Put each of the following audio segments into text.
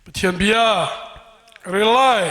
Pathian bia relai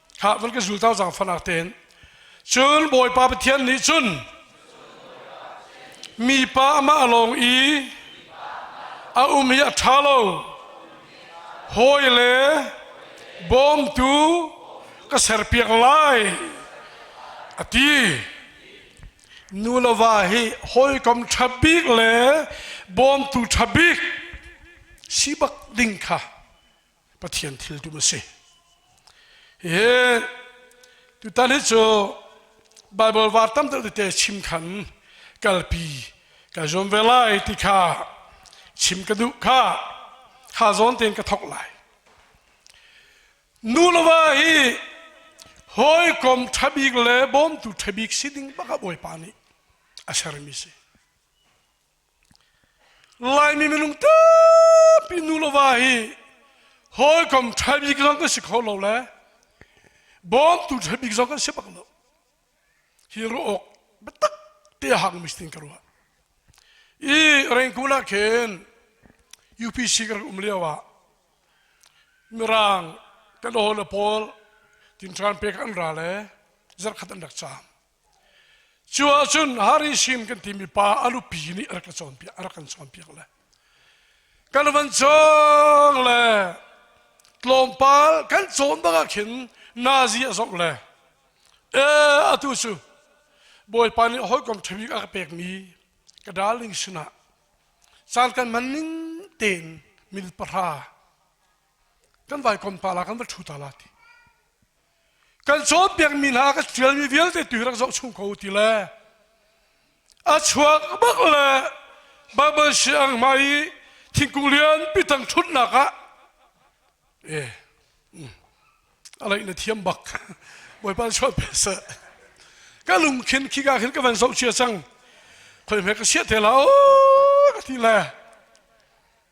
Hah, van ka zultau cang fanak ten. Cun Bawipa Pathian nih cun mipa amah lawng i a um hi a ṭha lo. Hawi le bawmtu ka serpiak lai a ti. Nu le va hi hawikom ṭha bik le bawmtu ṭha bik si bak ding kha Pathian thil tum a si. Hi tutan hi cu Bible var tam te chim khan kalpi ka zuam ve lai ti kha chim ka duh kha ha zawn tein ka thok lai nu lova hi hawikom ṭhabik le bawmtu ṭhabik si ding baka bawipa nih a sermi si Laimi minung tampi nu le va hi hawikom ṭha bik zong kan si kho lo le bawmtu ṭha bik zong kan si bak lo. Hi ruah awk biatak te a hang mi tin ka ruah. I rengkun ah khin UPC ka rak um lio ah Mirang kan aw le pawl tin ṭan pek an ra le zarkhat an rak caam. Cu ahcun Hari Sin kan timi pa a nupi nih a rak kan cawnpiak le kan van cawng le tlawmpal kan cawn bak ah khin nazi a zong le e atu cu bawipa nih hawikom ṭhabik a ka pekmi ka darling sinah caan kan hman ning tein min pahra kan vai kom ta la kan va ṭhu ta la ti kan cawnpiakmi hna ka ṭialmi vialte tu rak zoh chung ko ti le a chuak bak le Baibal siang hma i thingkung lian pitang ṭhutnak ah e a leih na thiam bak bawipa chuan pe sa ka lung khin khi ka khin ka van zoh chia cang khoi me ka siat te la o ka ti le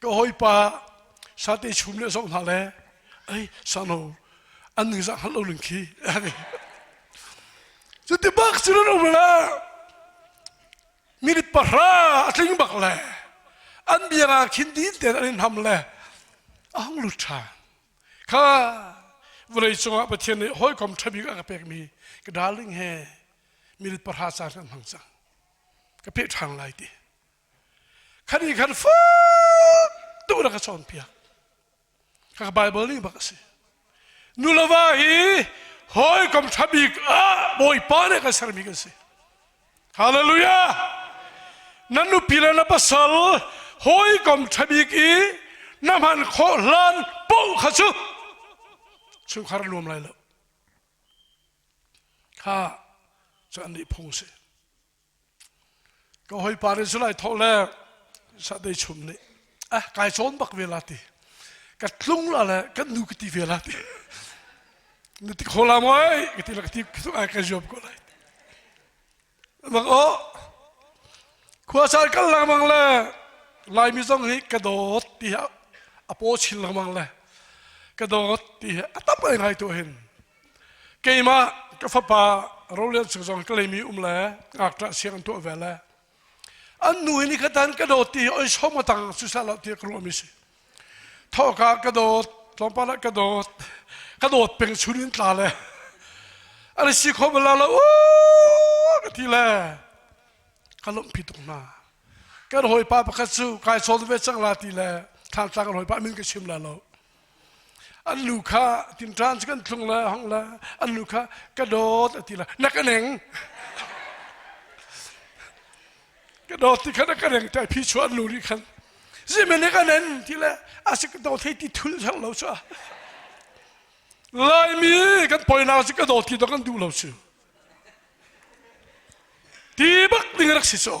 Ka hawipa sate chum le zong hna le ei sano an ningzah hngalh lo ning khi cu ti bak cu nan um la minute pahra a tling bak le an bianga khin din ten an in ham le a hong lut ṭha kha vawlei cungah Pathian nih hawikom ṭha bik a ka pekmi ka darling he minute pahra ca hlan hmang cang ka peh ṭhan lai ti Kan i khan fak tu na ka cawnpiak. Kha ka Bible ning bak a si. Nuleva hi hawikom ṭha bik ah Bawipa nih kan sermi kan si. Hallelujah! Na nupi le na pasal hawikom ṭha bik i na hman khawh hlan poh kha cu chungkhar nuam lai lo. Kha cu an nih phung si. ka hawipa nih zulai thawh le sahdei chum nih ah kai cawn bak ve la ti ka tlung la le kan nu ka ti ve la ti na ti kho la moi ka ti la ka ti tung ai ka zuab ko lai mang o khua sar kal lang mang le laimi zong hi ka dawt ti a po chin lang mang le ka dawt ti a tam ai ngai to hin keimah ka fapa rolian sik zong ka leimi um le ngakṭah siang an tuah ve le an nu hi nikhatan ka dawt ti oi som atang susah lo ti ka ruah mi si thawka ka dawt tlawmpal ah ka dawt ka dawt peng surin tla le ani si kho bala lo u ka ti le ka lom pi tuk na kan hawi pa pakhat cu kai sawn ve cang la ti le than tlang kan hawi pa min ka sim la lo An lu kha tinṭan cu kan thlung le hong le an lu kha ka dawt a ti le na ka neng ka dawt ti khan a ka reng ṭai phi chu an lu nih khan zimen i ka nen ti le a si ka dawt hei ti thul hlang lo cu laimi kan poinau cu ka dawt ti dong an duh lo cu ti bak ding rak si caw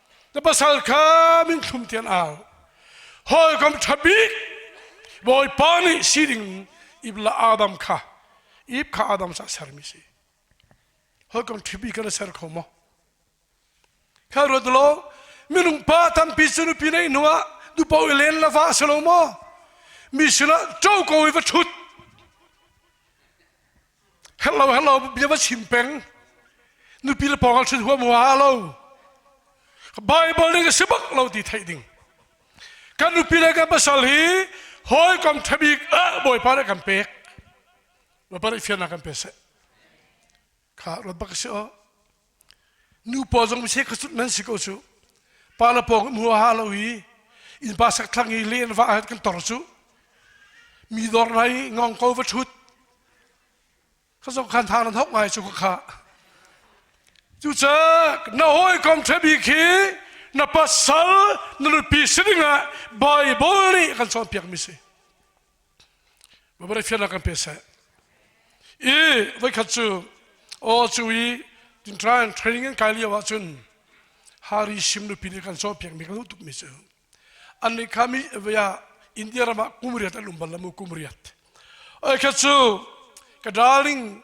Ka pasal kha minthlum thian au. Hawikom ṭha bik Bawipa nih si ding ibla Adam kha ib kha Adam sa sermi si. Hawikom ṭha bik kan ser kho maw? Khal ruat law minung pa tampi cu nupi neih hnuah nupa i len la va si lo maw? Mi sinah co ko i va ṭhut. Hello, hello, bia va chim peng. Nupi le pawng al thun huam wa lo. Bible ning si bak lo ti thei ding. Kan nupi le kan pasal hi hoi kom thabik ah bawipa ne kan pek. Ba pare fian kan pe se. Kha rat bak si o. Nupa zong miseh kha sut men si ko cu. Pa le pawng in hua ha lo i innpa sakthlang i le an vah han kan tor cu. Mi dor hna i ngong ko va ṭhut. Ka zong khan thang nan hauh ngai cu ka khah. Cucak na hawi kom ṭhebi khi na pasal na nupi si dingah Baibal nih kan cawnpiakmi si. Mabare fiannak kan pe seh. I voikhat cu aw cu i tin trying training an kai lio ahcun hari sim nupi nih kan caw piak mi kan tuk mi cu an nih kha mi via India ram ah kum riat an um bal lamu kum riat oi khat cu ka darling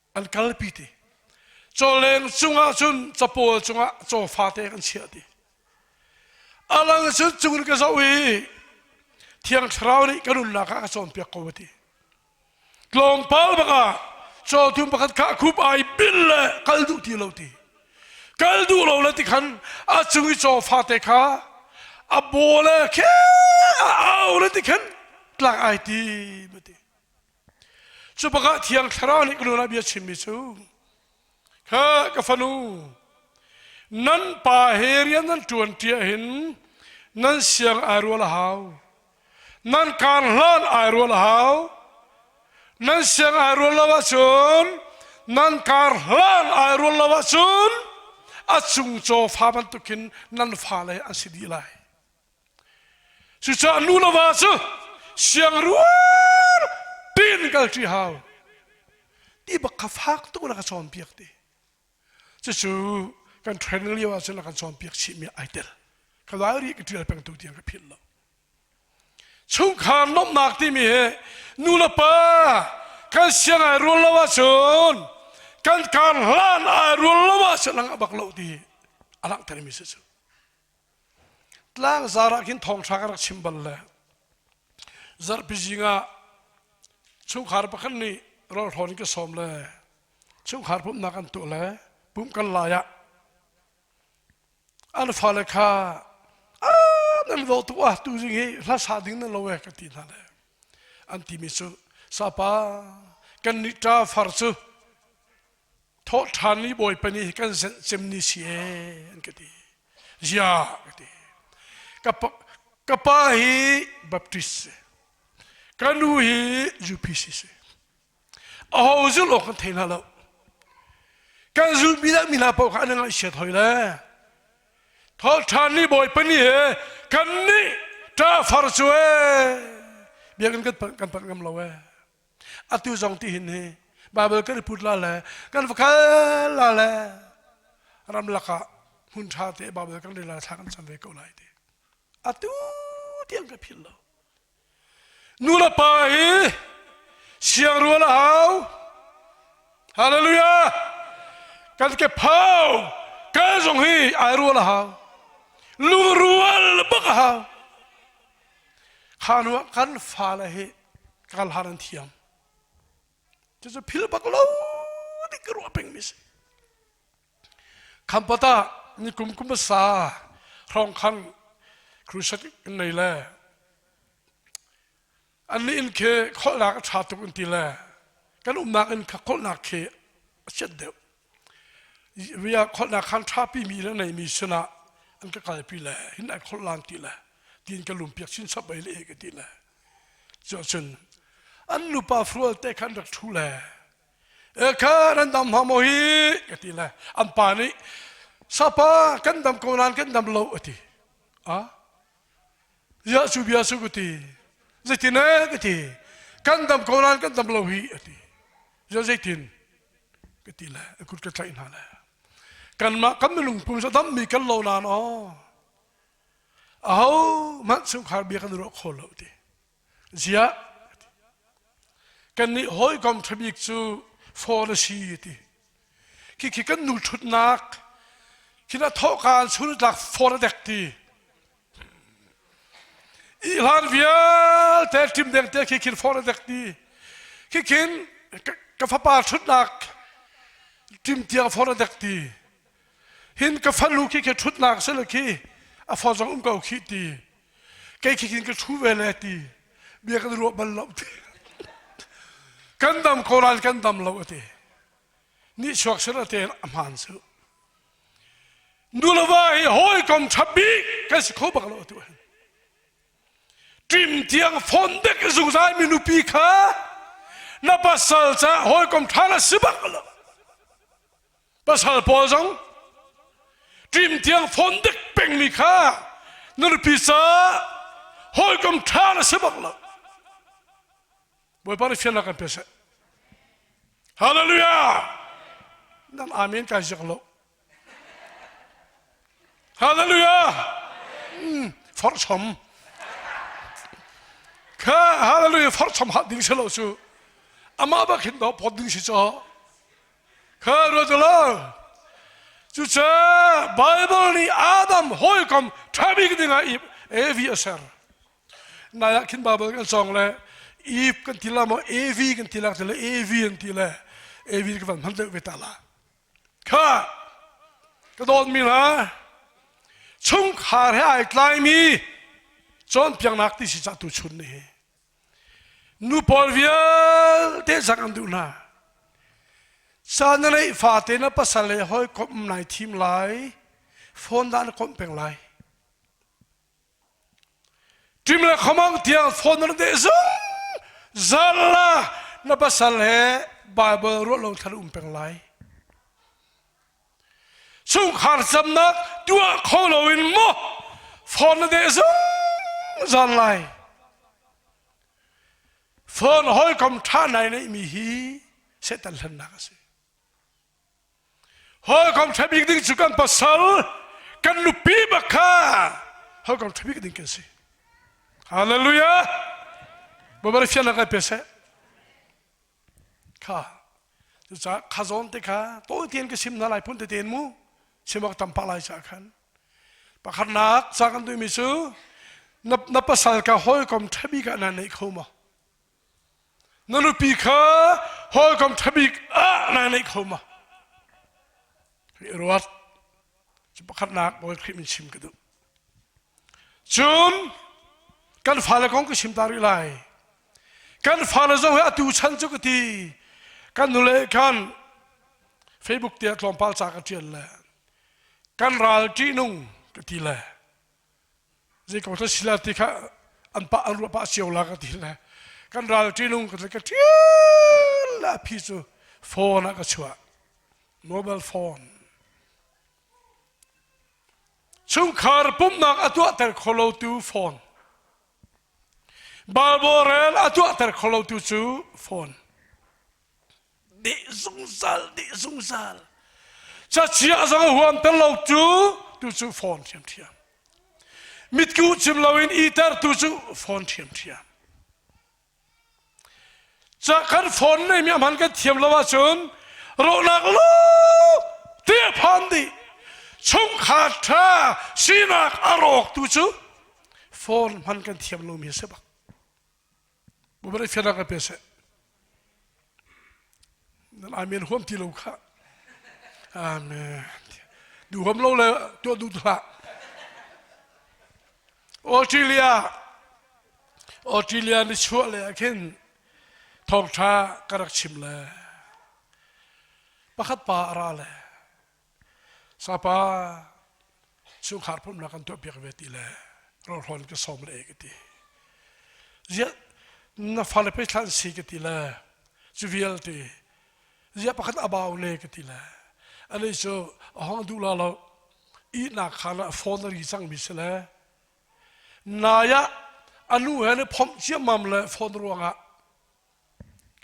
an kalpi ti chawleng cungah cun capawl cungah caw fate kan chiah ti alang cun cungin ka zoh i thiang thlarau nih ka nunnak ah a cawnpiak ko ti tlawmpal bangah caw thum pakhat kha khup ai bil le kal duh ti lo ti kal duh lo le ti khan a cung i caw fate kha a baw le khe a au le ti khan tlak ai ti ma ti Cu bakah Thiang Thlarau nih ka nawlngaihbia chimmi cu, kha ka fanu, nan pa he rian nan ṭuanṭi ahhin nan siang ai rual a hau. Nan kaan hlan ai rual a hau. Nan siang ai rual lo ahcun, nan kaan hlan ai rual lo ahcun, a cung cawfa bantukin nan fale an si dih lai. Cucaah lu le va cu siangruar tein kalṭi hau ti bak kha fak tuk in a ka cawnpiak ti cucu kan training lio ahcun a kan cawnpiak chihmi ai tel ka dal rih ka ṭial pengtu tiang ka philh lo chungkhar lawmhnak timi hi nu le pa kan siang ai rual lo ahcun kan kar hlan ai rual lo ahcun lang a bak lo ti a langhtermi si cu Tlangzar ah khin thawng hrang a rak chim bal le zarhpi zing ah chungkhar pakhat nih rawlhrawn in ka sawm le chungkhar pumhnak an tuah le pum kan lai ah an fale kha a nan vo tu ah tu zing hi hla sa ding nan lo eh ka ti hna le an ti mi cu sapa kan nih ṭa far cu Thawhṭhanmi Bawipa nih kan zenh cemni si ee an ka ti. Ziah ka ti. Ka pa, ka pa hi Baptist si. Ka nu hi UPC si. Aho zulh awk kan thei hna lo. Kan zulmi dah mi hna paoh kha an i ngaihsiat hoi le. Thawhṭhanmi Bawipa nih he kan nih ṭafar cu ee. Biakinn kan panh, kan panh ngam lo ee. atu zong ti hin hi bible kan i put la le kan va khal la le ramlak ah hmun ṭha te bible kan rila thla kan cam ve ko lai ti atu tiang ka phil lo nu le pa hi siang rual a hau hallelujah kan ke phau ka zong hi ai rual a hau lungrual bak a hau Kha hnu ah kan fale hi kar hlan an thiam. Cucu phil bak lo nih ka ruah pengmi si. Khampot ah ni kum kum sa hrawng khang crusade in nei le an ni in khi kholhnak a ṭha tuk in ti le kan umnak in kha kholhnak khi a chiat deuh. Ria kholhnak khan ṭhapimi le neimi sinah an ka kalpi le hin an kholhlang ti le tiin ka lumpiak chin chap ei le ka ti le cuahcun an nupa fural te khan rak ṭhu le e kha ran dam hma maw hi ka ti le an pa nih sapa kan dam ko nain kan dam lo a ti a Ziah cu bia su ka ti. Zeitin eh ka ti. Kan dam ko ran kan dam lo hi a ti. Ziah zeitin ka ti le a kut ka tlaih hna le. Kanmah kan milung pumsa dammi kan lo nan aw. A ho man chungkhar bia kan ruah kho lo ti. Ziah kan nih hawikom ṭhabik cu phone a si ti. Khi khi kan nu ṭhutnak khi na thawhka an sun tlak phone a dek ti. Ihlan vialte ṭim deng te khi khin fawr a dek ti. Khi khin ka fapa ṭhutnak ṭim tiang fawr a dek ti. Hin ka falu khi khi ṭhutnak si le khi a fawr zong um ko khi ti. Kei khi khin ka ṭhu ve le ti. Bia kan ruah bal lo ti. kan dam ko ral kan dam lo a ti. Ni chuak sir a te a hmaan su. Nuleva hi hawikom ṭha bik kan si kho bak lo atu hin. Ṭim tiang phone dek zungzalmi nupi kha na pasal caah hawikom ṭha na si bak lo. Pasal pawl zong ṭim tiang phone dek pengmi kha na nupi caah hawikom ṭha na si bak lo. Bawipa nih fial kan pe seh. Hallelujah! Nan amen kan zek lo. Hallelujah! Mm, forchom. Kha hallelujah forchom hat ding selo su. Amah bak hin do pot ding si cho. Kha rotalo. Cu ce Bible ni Adam hawikom thabik dingah i evi aser. Nai ah khin Bible kan song le Eve kan ti la maw Evi kan ti la ti le Evi an ti le Evi kan van hman deuh ve ta la kha ka dawt mi la chungkhar he ai tlai mi cawnpiaknak ti si cah tu chun ni hi nu pawl vialte zang an duh hna san na neih fate na pasal le hoi kom nai thim lai phone da na kom peng lai Ṭim le khamang tiang phone na deh zung zarla na pasal he Bible ruah lo thar um peng lai. Chungkhar camnak tuah kho lo in mo phone na deh zung zan lai. Phone hawikom ṭha nai neihmi hi Satan hlennak a si. Hawikom ṭha bik ding cu kan pasal, kan nupi bak kha hawikom ṭha bik ding kan si. Hallelujah! Babar fian kai pe seh. Kha cucaah kha zawn te kha tawi tein ka sim hna lai phun tete mu simok tam pak lai ca khan pakhatnak ca kan tuimi cu na, na pasal ka hawikom ṭha bik ah na neih kho maw Na nupi kha hawikom ṭhabik ah naa neih kho ma? Ka i ruat. Cu pakhatnak Bawi Khrih min chim ka duh. Cun kan fale kong ka chim ta rih lai. Kan fale zong he atu chan cu ka ti. Kan nule khan Facebook te ah tlawmpal ca ka ṭial le kan ral ṭihnung ka ti le Zeiko thlasila ti kha an pah an ruah pah cio la ka ti le kan ral ṭihnung ka ka ṭial la phi cu phone ah ka chuah mobile phone chungkhar pumhnak a tuahter kholotu phone balborel a tuahter kholotu cu phone nih zungzal nih zungzal chachia zong a huam ter lo tu tu cu fawn thiam thiam mitku chim loin iter tu cu fawn thiam thiam cha kan phone nei mi man kan thiam lo ahcun ronak lo te phan di chung khat tha sinak a rawk tu cu phone man kan thiam lo mi se bak Bawipa nih fianrak ah pe seh. Nan amen huam ti lo kha. Amen. Duham lo le tuah duh hlah. Australia Australia ni chuah le ah khin thawngtha ka rak chim le pakhat pa a ra le Sapa chungkhar pumhnak kan tuahpiak ve ti le rohrawn ka sawm le ka ti. Ziah na fale pe thlan si ka ti le cu vialte ziah pakhat abau le ka ti le alei cu a hong duh la lo ihnak khan ah phone ri cangmi si le nai ah a nu he ne phomh ciammam le phone ruangah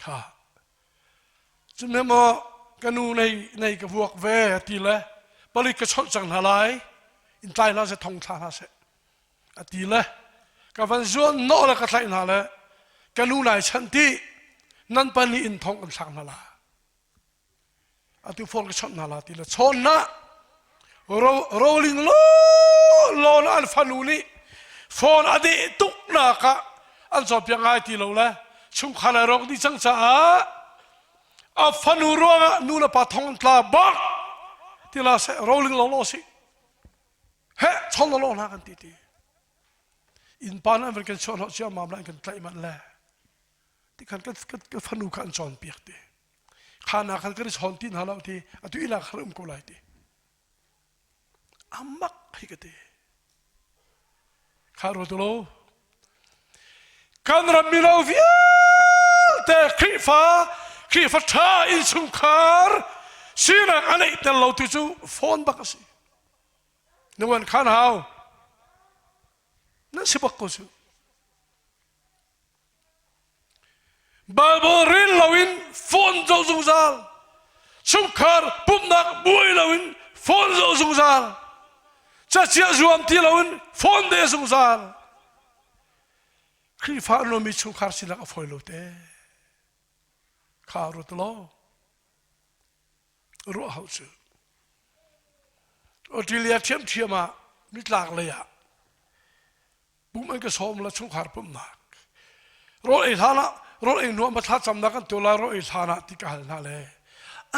kha Cuhnem ah ka nu nei ka vuak ve a ti le palik ka cholh cang hna lai in tlai hlah seh thong thla hna seh a ti le ka van zuan nawh le ka tlaih hna le ka nu nai chanh dih nan pahnih in thong kan thlak hna la atu phone ka chawnh hna la ti le chawn na rolling lo lo na an fanu nih phone a deh tuk nak ah an zo piang ngai ti lo le chungkhar ai rok dih cang caah a fanu ruang ah nu le pa thong tla bak ti la se rolling lo lo si he chon lo na kan ti ti in pan an kan chon ho chiam mam la kan tlai man le tikhan ka fanu kha an cawnpiak ti kha na khan kan i chawn ti hna lo ti atu ila har um ko lai ti amak hi ka ti kha ruat lo kan rammi lo vialte khrifa khrifa tha in chungkhar sinak a neih tel lo tu cu phone bak a si nungan khan hau nan si bak ko su Baibal rel loin phone zoh zungzal. Chungkhar pumhnak buai loin phone zoh zungzal. Cachia zuam ti loin phone de zungzal. Khrihfa an lomi chungkhar silak a fawi lo te. Kha rut law. Ruah hau cu. Australia ṭhiamṭhiam ah nitlak lei ah pum an ka sawm la chungkhar pumnak rawl ei hlan ah rawl ei hnu ah matla camnak kan tuah lai rawl ei hlan ah ti ka hal hna le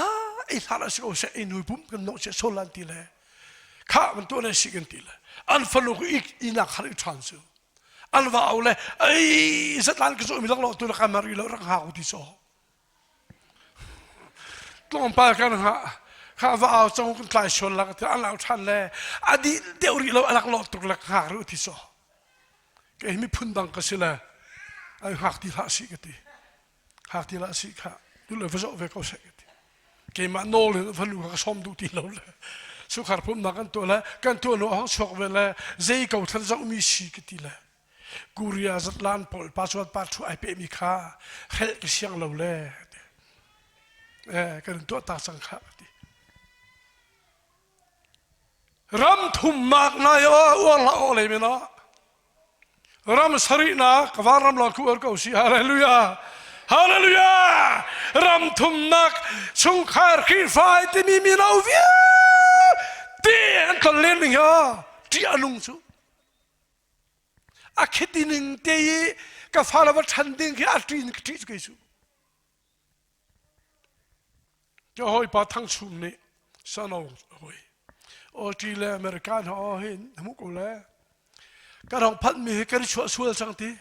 a ei hlan ah si ko seh ei nui pum kan nok se sol lan ti le kha ban tu ne si kan ti le an fanu ku ik inak har ik than su an va au le ai satlan ka so mi lak lo tu la kamari lo rang ha ku ti so tlawmpal kan hah va au cong kan tlai sual lang ti an lau ṭhan le a dih deuh rih lo a rak lawh tuk le hngak rih ti so kei miphun dang ka si le ai hngak ti hlah si ka ti hngak ti hlah si kha tu le va zoh ve ko sek ka ti keimah nawl in va lu ka som duh ti lo le sukhar phumnak kan tuah le kan tuah lo hang chuak ve le zei ko thal zoh mi si ka ti le Korea zatlan pawl password password ai pehmi kha hrelh ka siang lo le eh, kan in tuah ta cang kha ka ti ram thum mak nai o uang la o le men o ram sari na kawan ram long ku er ko si hallelujah hallelujah ram thum nak chungkhar khi fai timi mi no via ti an kal len ning ya ti anung chu A khiti ning te i ka fale va ṭhan ding khi a ṭi in ka ṭih cu kei cu. Ka hawipa Thang Chum nih sano a hawi. Awṭi le America hna aw hin hmu ko le kan hong phanhmi hi kan i chuah sual cang ti.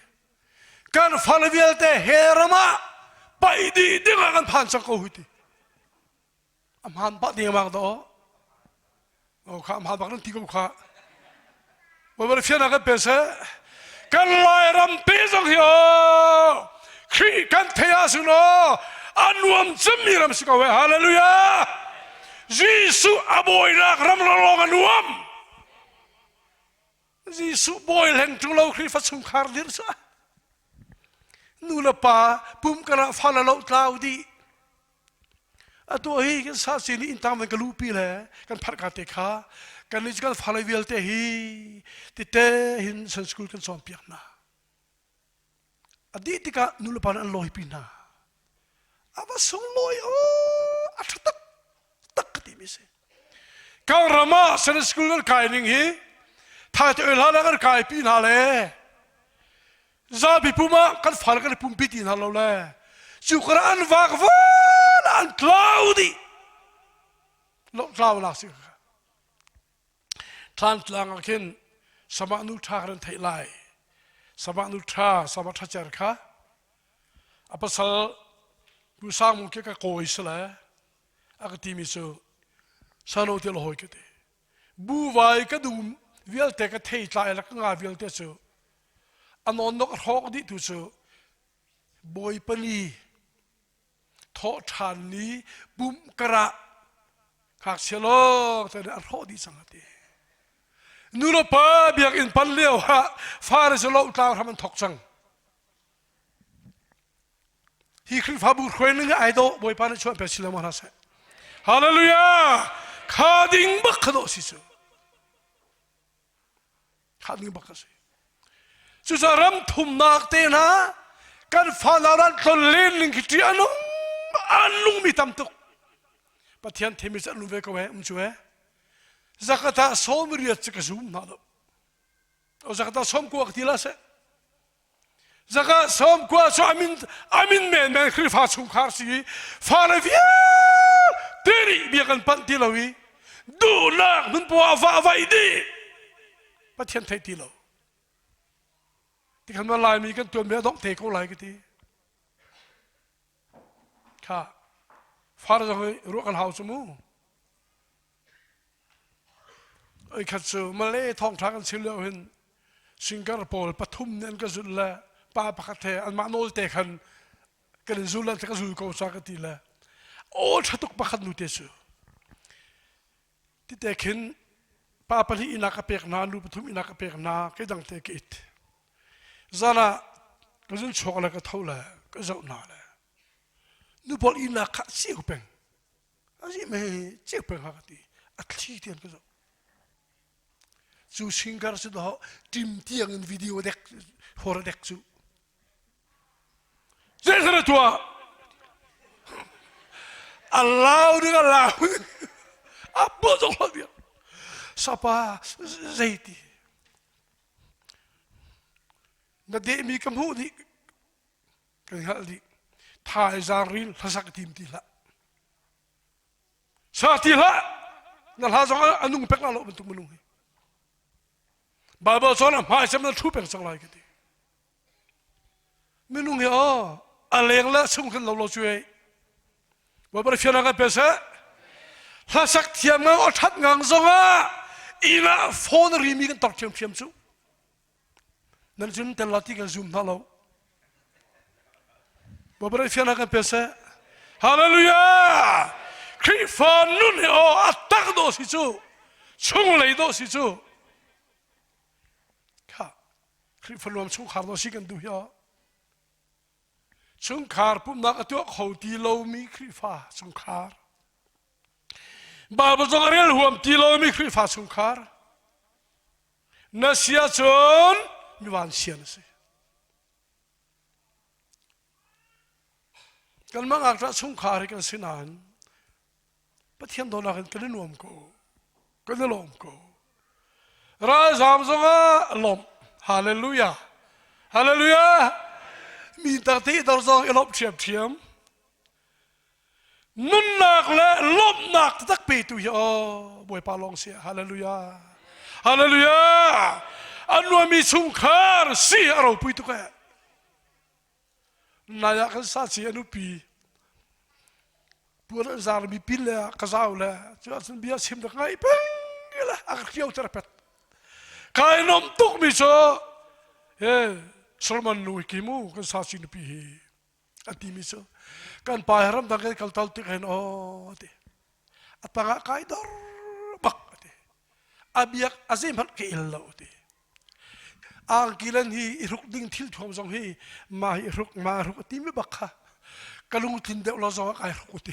Kan fale vialte he ram ah paih dih ding ah kan phan cang ko hui ti. a hmaan pah dengmang daw o kha a hmaan bak nan ti ko kha babal fiana kan pe se kan lai rampi zong hi o khrih kan theya sun o an nuam cemmi ram si ko we hallelujah Jesuh a boinak ram lawng a nuam Jesuh boi leng tu lo khrih fa chung khar dir sa nu le pa pum kana fa la lo tlau di A tuah hi kan sasi nih inntang man ka luhpi le kan pharh ka te kha kan nih kan fa vialte hi tite hin san school kan sawm piak hna a dih tikah nu le pa an lawi pi hna a va sung lawi o a ṭha tak tak ka timi si kan ram ah san school kan kai ning hi thai te oi hla kan kai pi hna le zabi pum ah kan fale kan i pumpi ti hna lo le cu kora an vak vuan an tlau dih lo tlau lak si ka than tlang ah khin sama nu tha kan thei lai sama nu tha sama tha cer kha a pasal pu sang mung ke ka kawi sale a ka ti mi cu sano ti lo hoi ka ti Buvaai ka dum vialte ka theitlai le ka nga vialte cu a nonnok a hrawk dih tu cu bawi pani thawhṭhan ni bum karah ngakchia lawng te nih a hrawh dih cang ati. Nuno pa biakinn pan lio ah fare cu lohtlang hram an thok cang. Hi Khrihfabu hruai ning ah ai dawh Bawipa nih chuah piak si lengmang hna seh. Hallelujah! Kha ding bak kha dawh si cu. Kha ding bak ka si. Cucaah ram thumnak te hna kan fana ran tlon len ning khi ti anung an lung mi tam tuk. Pathian themi cu an lung ve ko he um cu he. Zakata som riat cu ka zum hna lo. O zakata som kuak ti la se. Zaka som kwa so amin amin men men Khrihfa chungkhar si i fale vial tiri bia kan panh ti lo i duhnak hmunpawah va vai di Pathian thei ti lo ti kan man laimi kan tuan me dong thei ko lai ka ti kha far zong i ruah kan hau cu mu Oikhat cu Malay thawngṭha kan chim lio hin singer pawl pathum nih an ka zulh le pa pakhat he anmah nawlte khan kan in zul ti ka zul ko ca ka ti le aw ṭha tuk pakhat nute cu tite khin pa pahnih ihnak ka pek hna nu pathum ihnak ka pek hna keidang te ka it zan ah ka zun chuak le ka tho le ka zoh hna le nu pawl ihnak kha a ceu peng a si me cek pel ha ti a thli tian ka zo cu singer su do tim tiang in video dek hor dek su se sara tua allow ding allow a bu zong lo dia sapa zeiti na de mi ka mu ni Ka hngalh dih. Tha i zar ril hlasak tim ti hlah. Sa ti hlah. Na hla zong ah a nung pek la lo bantuk minung hi. Bible cun a hmai sem na thu peng sang lai ka ti. Minung hi o a leng le sung khan lo lo chu ei. Wa bari fiana ka pe se. Hlasak thiam ngang o that ngang zong ah ina phone ri mi kan tor thiam thiam chu. Nan cun tel la ti kan zum hna lo. Babarai fianha kan pe seh. Hallelujah! Khrihfa nun he aw a tak dawh si cu chung lei dawh si cu kha Khrihfa luam chungkhar dawh si kan duh hi chungkhar pumhnak a tuah kho ti lomi Khrihfa chungkhar Bible zong a rel huam ti lomi Khrihfa chungkhar na sia cun mi vansia na si kanmah ngak ṭah chungkhar hi kan si nain pathian dawtnak in kan i nuam ko kan i lawm ko ralzam zongah lawmh hallelujah hallelujah mi takte dor zong i lawmh ṭhiamṭhiam nunnak le lawmhnak tak petu hi aw bawipa lawng si hallelujah hallelujah an nuammi chungkhar si a ropui tuk e nai ah kan sa si anu pi puan zar mi pil le ka zau le chu ah bia sim da ngai peng ila a fio ter pet kai nom tuk mi cho e solomon nu kimu kan sa si nu pi hi a timi cu kan pa he ramdang kan kal tal tik hen aw ti a tangah kai dor bak ti a biak a zeihmanh ka il lo ti angkilan hi i ruk ding thil thuam zong hi ma hi ruk ma ruk a ti me bak kha ka lungtlin deuh lo zong ah kai ruk ti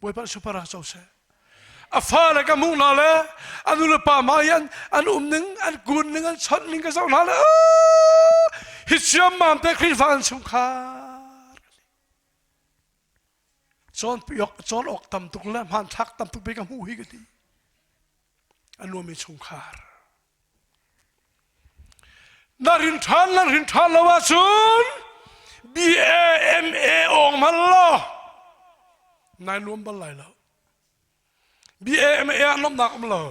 Puai palh supar ah co seh. A fale ka hmuh hna le an nu le pa ma hian an um ning an kun ning an chawt ning ka zoh hna le hi siam mam te Khrihfa an chung khar cawn piok cawn awk tam tuk le hman thlak tam tuk be ka hmu hi ka ti a nuam i chungkhar na rin ṭhan na rin ṭhan lo ahcun BAMA awng hman law nai nuam bal lai lo BAMA ah nuamnak um lo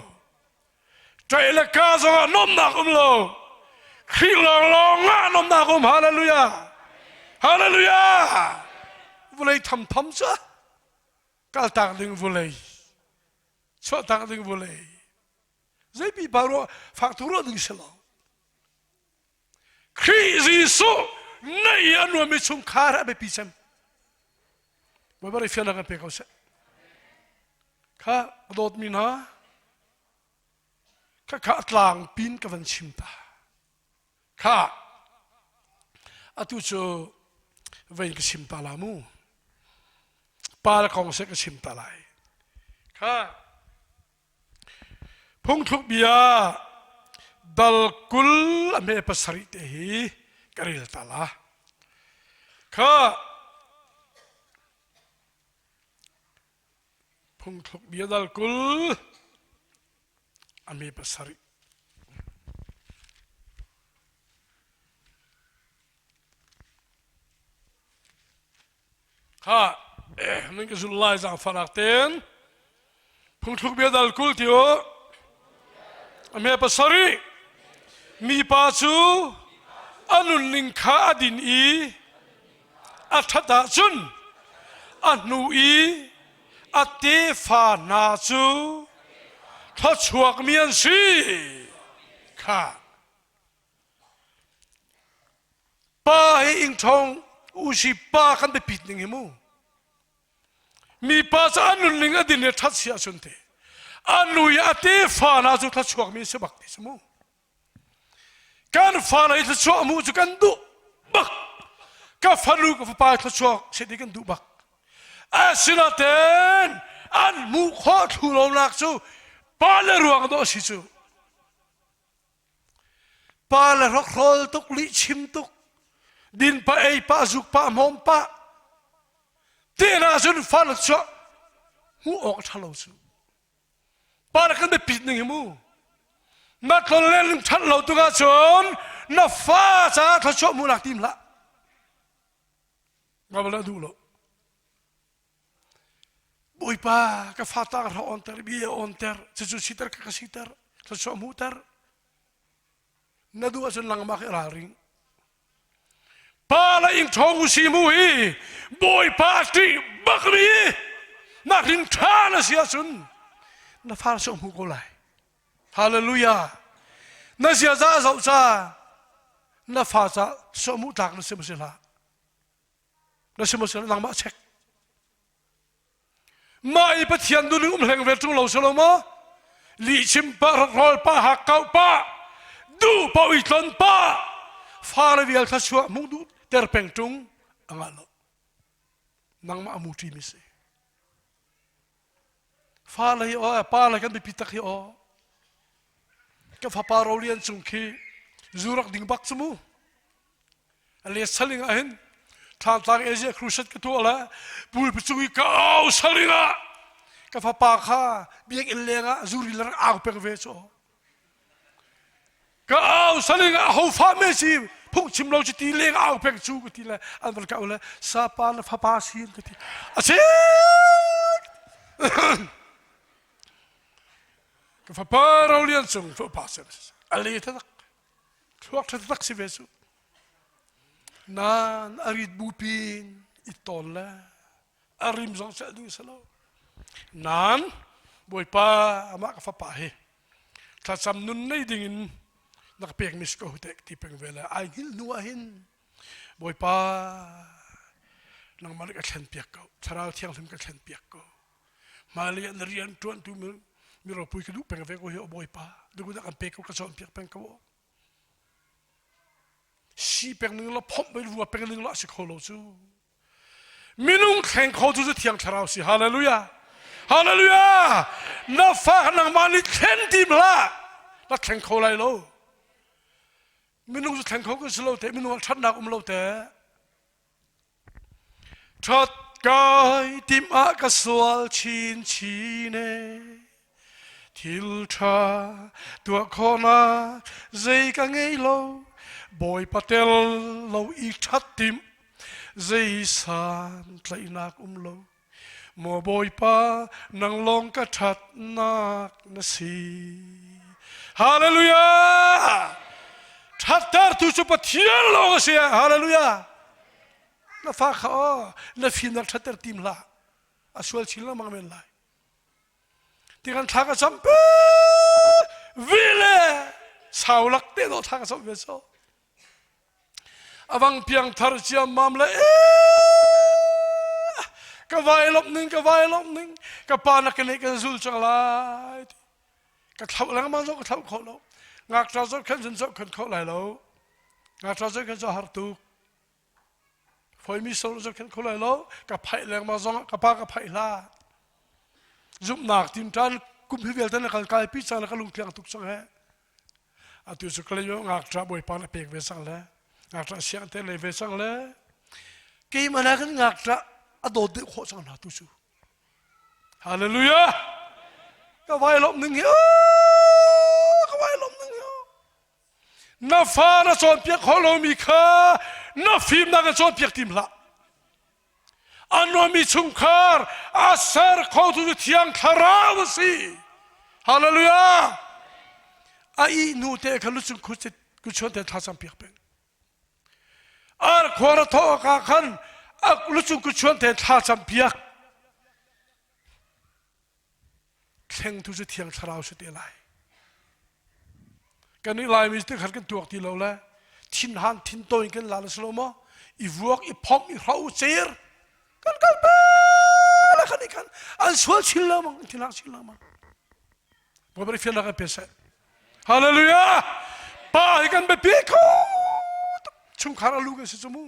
ṭai le ka zong ah nuamnak um lo Khrih lawnglawng ah nuamnak um hallelujah hallelujah vulei tham tham cu kaltak ding vulei chuahtak ding vawlei zei pipa rawh faktu rawh ding si lo Khrih Jesuh na i an nuammi chungkhar a biapi cem Baibal fian nak an pe ko seh kha dawtmi hna kha kha tlang pin ka van chim ta Thah! Atu cu vei ka sim ta la mu. Pa le kong seh ka sim ta lai. Kha phungthluk bia dal kul a me pasarih te hi ka rel ta la. Kha Phungthluk bia dal kul a mi pasarih. Kha nan ka zulh lai zang farak ten phungthluk bia dal kul tio a me pasarih mi pa cu a nunning kha a din i a ṭhat ahcun a hnu i a tefa hna cu thluachuakmi an si kha pa hi ingṭhong usi pa khan biapit ning hi mu mipa cu a nunning a din i ṭhat si ahcun te a nu i a tefa hna cu thluachuakmi si bak ti si mu kan falei thluachuah hmuh cu kan duh bak ka fanu ka fapa thluachuah set i kan duh bak asinaten an hmuh khawh thlu lonak cu pa le ruang dawh si cu pa le rokhrawl tuk lih chim tuk din pa ei pa zuk pa mawm pa tina cun fa thluachuah hmuh awk ṭha lo cu Pa na kan biapit ning hi mu. Na tlonlen ning ṭhat lo tuk ahcun na fa caah thluachuah mu nak tim hlah. Ma bala duh lo. Bawipa ka fata ka ra on ter bi on ter cucu siter ka ka siter thluachuah mu ter na duh ahcun langmah i ralring pa la ing ṭhawng u si mu hi bawipa ṭih bak ri nak rin ṭha na si ahcun na far sawh hmu ko lai hallelujah na ziaza a zoh ca na fa ca sawh mu tlak na si maw si hlah na si maw si hlah langmah check mah i pathian nu um hleng ve ṭung lo si lo maw lihchim pa rawl pa hakkau pa duh pa ui tlon pa fale vial thla chuah mung du ter peng ṭung a ngah lo nangmah a mu ṭi mi si Fale hi aw, pale kan biapi tak hi aw. Kan fapa Rolian cung khi zurak ding bak cu mu. Ale saling ah hin ṭhantlang Asia crusade ka tu ala pul pucung i kau saling ah ka fapa kha biak in leng ah zuri lar au peng ve chu. ka au saling a hofa me si phung chim lo chiti leng au peng chu ka ti le an van ka le sapa na fapa sin ka ti asi ka fapa ro lian chung fa pa se ali ta tak thluak that tak si ve su nan arit bu pin i tol le a rim zong celh duh si lo nan bawipa amah ka fapa hi thlacam nun nei dingin na ka pekmi si ko huteh ti peng ve le ai hngil hnu ah hin bawipa nangmah ka thlen piak ko thlarau thianghlim ka thlen piak ko mali an rian tuan tu mi ropui ka duh peng ve ko hi o bawipa dukun kan pe ko ka cawn piak peng ko si peng ning la phomh bai rua peng ning la si kho lo cu Minung thleng kho cu cu thiang thlarau si. Hallelujah. Hallelujah. Na fa nangmah nih thlen ti hlah. Na thleng kho lai lo. Minung cu thleng kho kan si lo te. Minung ah ṭhatnak um lo te. Ṭhat kai tim ah ka sual chinchin e. Thil ṭha tuah khawhnak zei ka ngei lo, Bawipa tel lo i ṭhat timh, zei santlaihnak um lo. Maw Bawipa, nang lawng ka ṭhatnak na si. Hallelujah! Ṭhattertu cu Pathian lawng a si. Hallelujah! Na fa kha aw, na fimnak ṭhatter tim hlah. A sual chin lengmang men lai. ti kan thla ka sam pi vi le sau lak te to thla ka sam ve so awang piang thar cia mam le ka vai lop ning ka vai lop ning ka pa na ka ne kan zul chang lai ti ka thlau lengmang zo ka thlau kho lo ngak tra zo khan sun zo khan kho lai lo ngak tra zo khan zo har tuk Foimi sung na zoh khenh kho lai lo. Ka phaih lengmang zong ka pa ka phaih hla. Zumhnak tin tan kum hi vialte na kal kai pi cang na ka lung tliang tuk sang he. Atu cu kalayo ngak tra bawipa na pek ve sang le. Ngak tra siang te le ve sang le. Keimana kan ngak tra a dawt deuh khawh sang hna tu cu. Hallelujah. Ka vai lom ning hi. Ka vai lom ning hi. Na fa na cawnpiak hau lomi kha na fimnak in cawnpiak tim hlah. A nuammi chungkhar a ser khotu cu thiang thlarau a si. Hallelujah! A ih nu te kha lucung kuchuan te thlacam piak peng. Ar khuar a thawh ah khan a lucung kuchuan te thlacam piak. Thleng tu cu thiang thlarau si te lai. Kan i Laimi te khan kan tuak ti lo le thin han thin to in kan la lo maw i vuak i phomh i hro cer kan kal pe la khan i khan an sual chin lo mang thin hang chin lo mang Bawi fian la kan pe se hallelujah pa hi kan be pi ko chungkhar alu kan si chu mu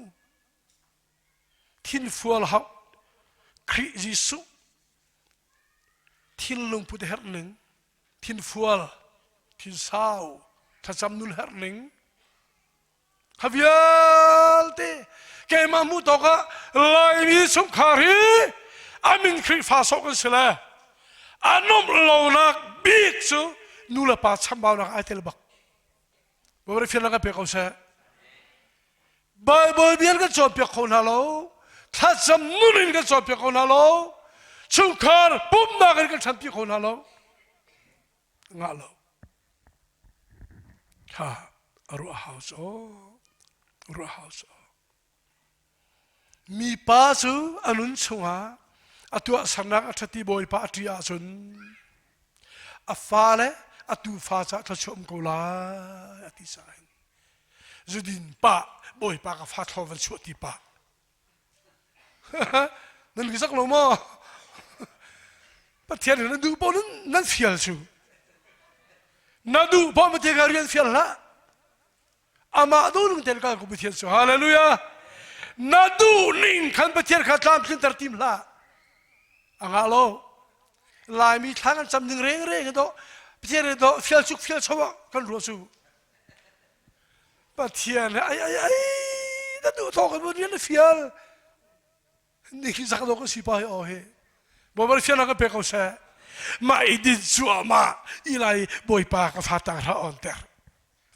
Thinfual hauh, Khrih Jesuh, thinlung put herh ning, thinfual, thinsau, thlacam nun herh ning, ha vialte keimah hmuh tawk ah Laimi chungkhar hi a min Khrihfa sok an si le a nomh lonak bik cu nu le pa chambaunak ai tel bak. Bawifian rak ka pek ko seh. Baibal bia kan cawnpiak kho hna lo. Thlacam nun in kan cawnpiak kho hna lo. Chungkhar pumhnak in kan ṭhanpi kho hna lo. Ngah lo. Ha, a ruah house, oh. Ruah house, oh. Mipa cu a nun chungah a tuahsernak a ṭhati Bawipa a ṭih ahcun a fale a tuufa ca thluachuam ko lai a ti sahin zudin pa Bawipa ka fa thlor van chuah ti pa nan ka sak lo maw Pathian na duh paoh nan, nan fial cu na duh paoh Pathian ka rian fial hlah amah duhning tein kal ku Pathian cu hallelujah na duhning khan Pathian kha tlamtlinter tim hlah anga lo laimi thlang an cam ning reng reng do Pathian do fial chuk fial cho kan ruo su Pathian ai ai ai na duh thong kan rian na fial ni khi zak lo kan si pa o he bo bar fial na ka pe ko se ma idin chu ma ilai boipa ka fata ra on ter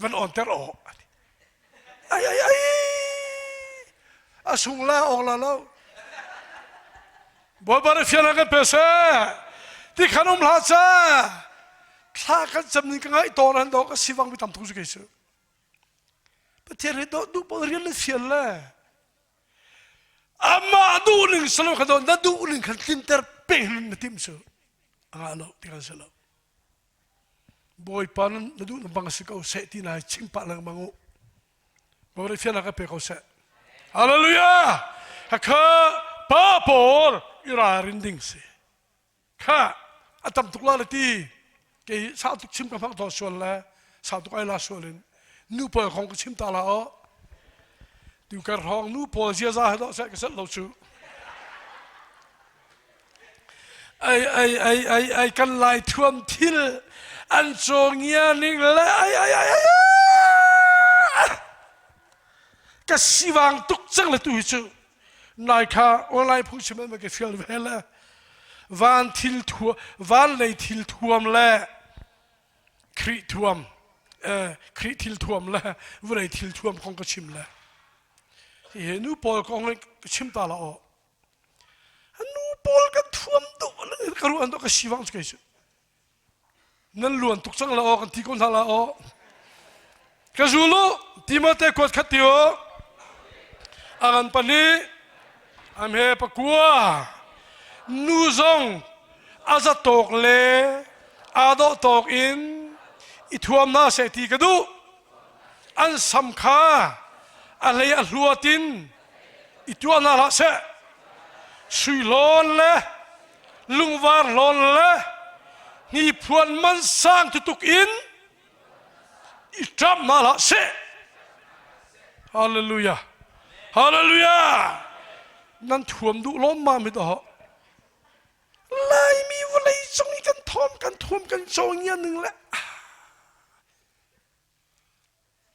van onter awk ai ai ai a sung la awk la lo bawipa nih fian a kan pe se ti khan um hla ca thla kan cam ning ka ngai tawn han dawk a si wang mi tam tuk su kai su pathian he do du pon rian le fian le amma duh ning salo ka don na duh ning khan tlim ter peng na tim su anga lo ti kan se lo Bawipa na duh na bang si ko seh ti lai chim pah lengmang u. Mangri fiannak ka pe ko seh. Hallelujah! Hakha pa pawl i ralrin ding si. Kha a tam tuk la le ti ke sau tuk chim ka hmak to sual le sau tuk ai la sual in nu pa kong ka chim ta la o. Tuukar hrawng nu pawl ziaza he doh seh ka set lo cu. Ai ai ai ai ai kan lai thuam thil an cawngia ning le ai ai ai ai ka siwang tuk cang le tu hi cu nai kha online phung chim ma ka fial ve le van thil thuam van lei thil thuam le Khrih thilthuam le vawlei thilthuam kong ka chim le hihi nu pawl kong in ka chim ta la aw nu pawl kan thuam tu ka ruan tu ka si wang kai su nan luan tuk cang la aw kan ti ko hna la aw ka zul u Timote kuat khat ti u aran pahnih amhe pakua nu zong aza tawk le adawh tawk in i thuam na se ti ka duh an sam kha a hlei a hluat in i tuah na hlah se sui hlawn le lungvar hlawn le hniphuan man sang tutuk in i ṭam hna hlah seh. Hallelujah. Hallelujah. Nan thuam duh lawmmam hi daw. Laimi vawlei cung i kan thawm, kan thuam, kan co ngianing le.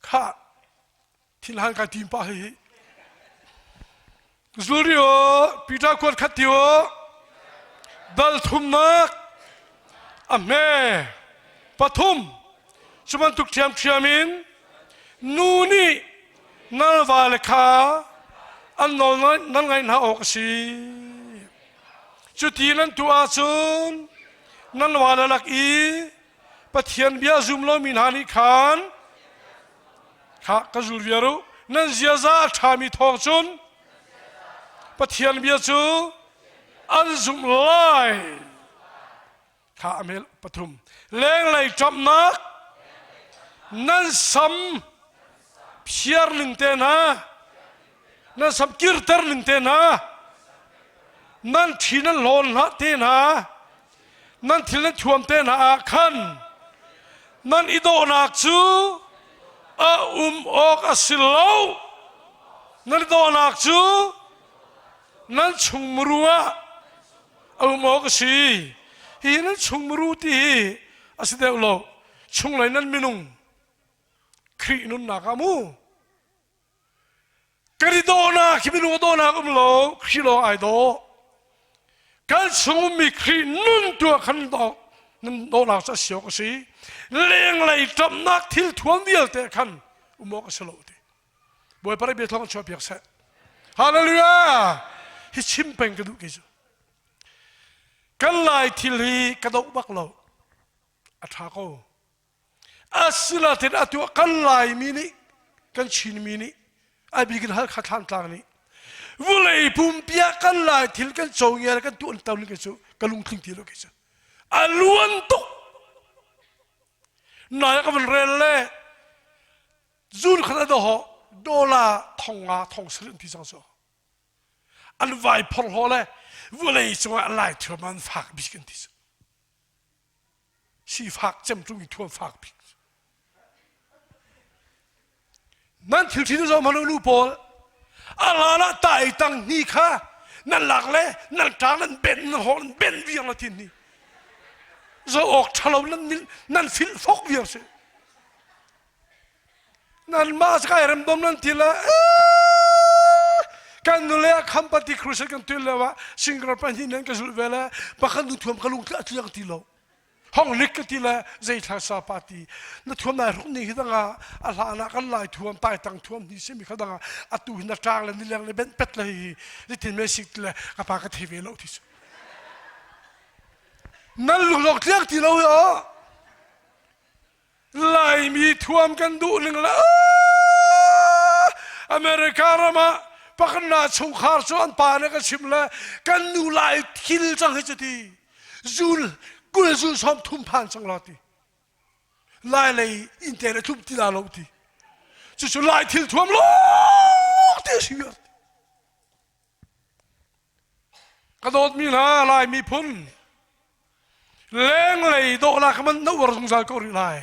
Kha thil hal kai tim pa hi zulri o pita kuat khat ti o dal thumnak a hme pathum cubantuk thiam thiam in nu nih nalva le kha an nawl nan ngaih hna awk a si cuti nan tu ahcun nan wa le lak i Pathian bia zum lomi hna nih khan kha ka zul viar u nan ziaza a ṭhami thawng cun Pathian bia cu an zumh lai kha a mel pathum lenglei ṭamnak nan sam phiar ning te hna nan sam kirter ning te hna nan thin an hlawn hlah te hna nan thil nan thuam te hna ah khan nan i dawhnak cu a um awk a si lo nan i dawhnak cu nan chungmuru ah a um awk a si hi nan chungmuru ti hi a si deuh lo chung lei nan minung Khrih nunnak ah mu Kan i dawhnak hi minung a dawhnak um lo, Khrih lawng ai daw. Kan chung ummi Khrih nun tuah khan dawh, nan dawhnak cu a si awk a si. Lenglei ṭamnak thil thuam vialte khan um awk a si lo ti. Bawi Parai bia thawng chuah piak seh. Hallelujah! Hi chim peng ka duh kei cu. Kan lai thil hi ka doh bak lo. A ṭha ko. Asinain atu a kal laimi nih kan Chinmi nih a bik in Halkha Thlangtlang nih vulei pumpi ah kan lai thil kan co ngial kan tuan tam ning cu ka lungtling ti lo kei cu a luan tuk nai ka van rel le zun khat a daw dollar thong nga thong sal an ti cang so an vai phor ho le vulei cungah an lai thurma an fak bik an ti so Sifak cemtum i thuam fak bik. Nan thil ṭhin zohman u nu pawl, a hlan ah ta ei tang ni kha nan lak le nan ṭang nan ben nan hawh nan ben viang la tin ni. Zo awk ṭhalo nan nan filfok viang si. Nanmah skai remdom nan thil ah kan nule ah kham pati crusade kan tuan leo ah single pahnih nan ka zulh ve le pakhat nu thuam ka lung tla tu ti lo hong lik ka ti le zei thla sa party na thuam nai ruk ni hi danga a hla na kan lai thuam pai tang thuam ni simi kha danga a tu na tang le ni leng le ben pet le hi ni tin me sik le ka pa ka the ve lo thi su nan lung lok tliak ti lo yo Laimi thuam kan duh ning la America ram ah pakna chungkhar cu an pa nih ka chim le kan nu lai thil cang hi cu ti zun kul zu som thum phan cang lo ti lai lei inte na tlum ti la lo ti cucu lai thil thuam lo ti a si Ka dawtmi hna Lai miphun, lenglei dawhnak man na uar zungzal ko rih lai.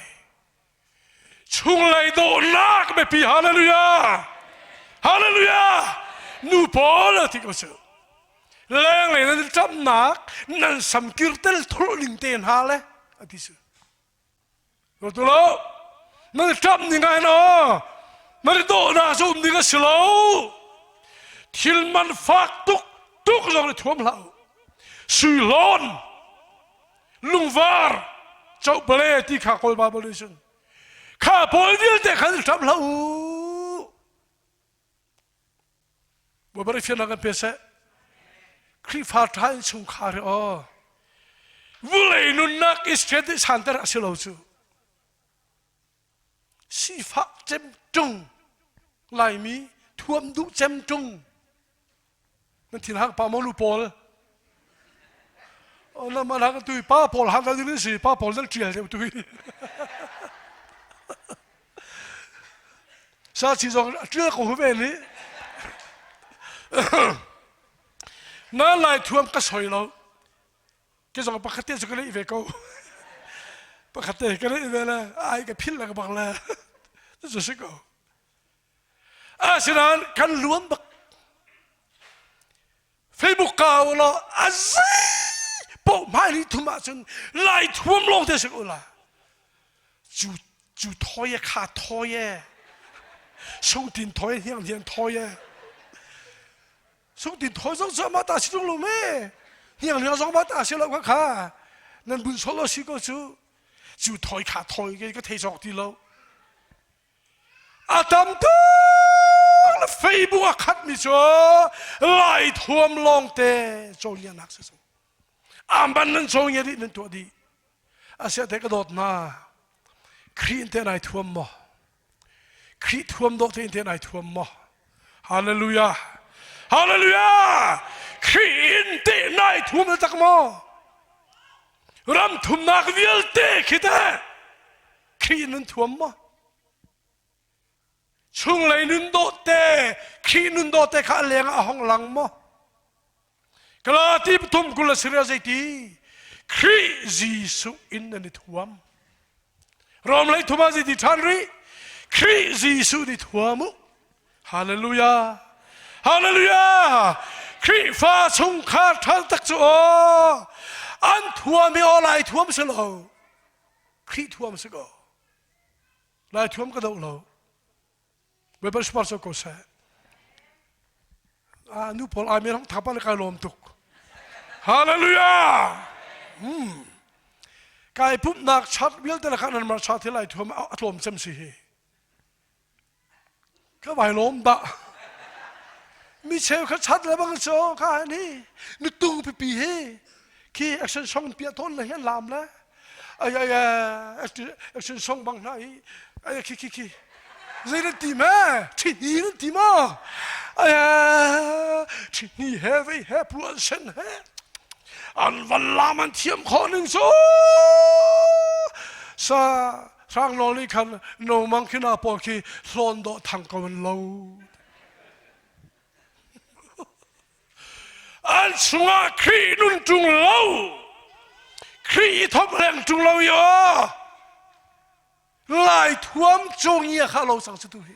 Chunglei dawhnak biapi hallelujah! Hallelujah! Nu pawl thi ko sih. Lenglei nan camnak nan samkir tel thulh ning te hna le a ti sih. Ka tu lo. Na ṭap ning ah na na ri dawhnak cu um ding a si lo. Thil man fak tuk tuk zong ri thuam hlah. Suihlawn, lungvar, chopale ti kha kawl ba bol nih cun. Kha pawl vialte khan ṭap hlah u. Bawipa nih fianhnak kan pe seh. Khrihfa ṭha in chungkhar hi aw vawlei nunnak i strategy santer a si lo cu sifak cem ṭung laimi thuam duh cem ṭung nan thil hak pa maw lu pawl oh, na man hak tu pa pawl hak ding nan si pa pawl nan tial deuh tu hi sa chi zong tial ko hu ve ni na lai thuam ka soi lo ke zong pakhat te su ka nei ve ko pakhat te ka nei ve le ai ka phil la ka bang la su si ko Asinain kan luam bak. Facebook ka ulaw a zei paoh hmai ni thum ahcun lai thuam lawng te si ula. Cu cu thoi e kha thoi e. Sungtin thoi hniang hniang thoi e. Sungtin thoi zong cu amah ta si tung lum e. Hniang hniang zong amah ta si lo ka kha. Nan bun sol lo si ko cu. Cu thoi kha thoi ke ka thei cawk ti lo. A tam tuk le feibu a khatmi cu lai thuam lawngte cawlianak si so. Amban nan cawngia dih nan tuah dih. Asiate ka dawt na. Khrih in te nai thuam maw? Khrih thuam dawh te in te nai thuam maw? Hallelujah. Hallelujah. Khrih in te nai thuam na tak maw? Ram thumnak vialte khi te. Khrih nun thuam maw? Chunglei nun dawhte, Khrih nun dawhte kha a leng ah a hong lang maw? Galati pathum kul a si rel zeiti? Khrih Jesuh in nan i thuam. Rom lei thum ah zeiti ṭhan rih? Khrih Jesuh ni thuam u. Hallelujah. Hallelujah. Khrihfa chungkhar ṭhal tak cu aw an thuam i aw lai thuam si lo. Khrih thuam si kaw, lai thuam ka doh lo. Weapon sponsor ko seh. Ah, nu pawl ai merang thapa le kai lawm tuk. Hallelujah! Hmm. Kai pumnak chart vialte le khan nan mar cha thi lai thuam a tlawm cem si hi. ka vai lawm dah micheu kha chat lebang cu ka ni nu tung pipi hi khi action song piah tawn le hi lam le ai ai action song bang hna i ai khi khi khi zei nan ti ma ṭhihni nan ti ma ai ṭhihni he vei he pluan sen he an van lam an thiam khawh ning cu sa Hranglawng nih khan nongmang khi hna pawl khi hlawn dawh thang ko an lo. an chungah Khrih nun ṭung lo. Khrih i thawm leng ṭung lo i aw. Lai thuam cung i kha lo sang si tu hi.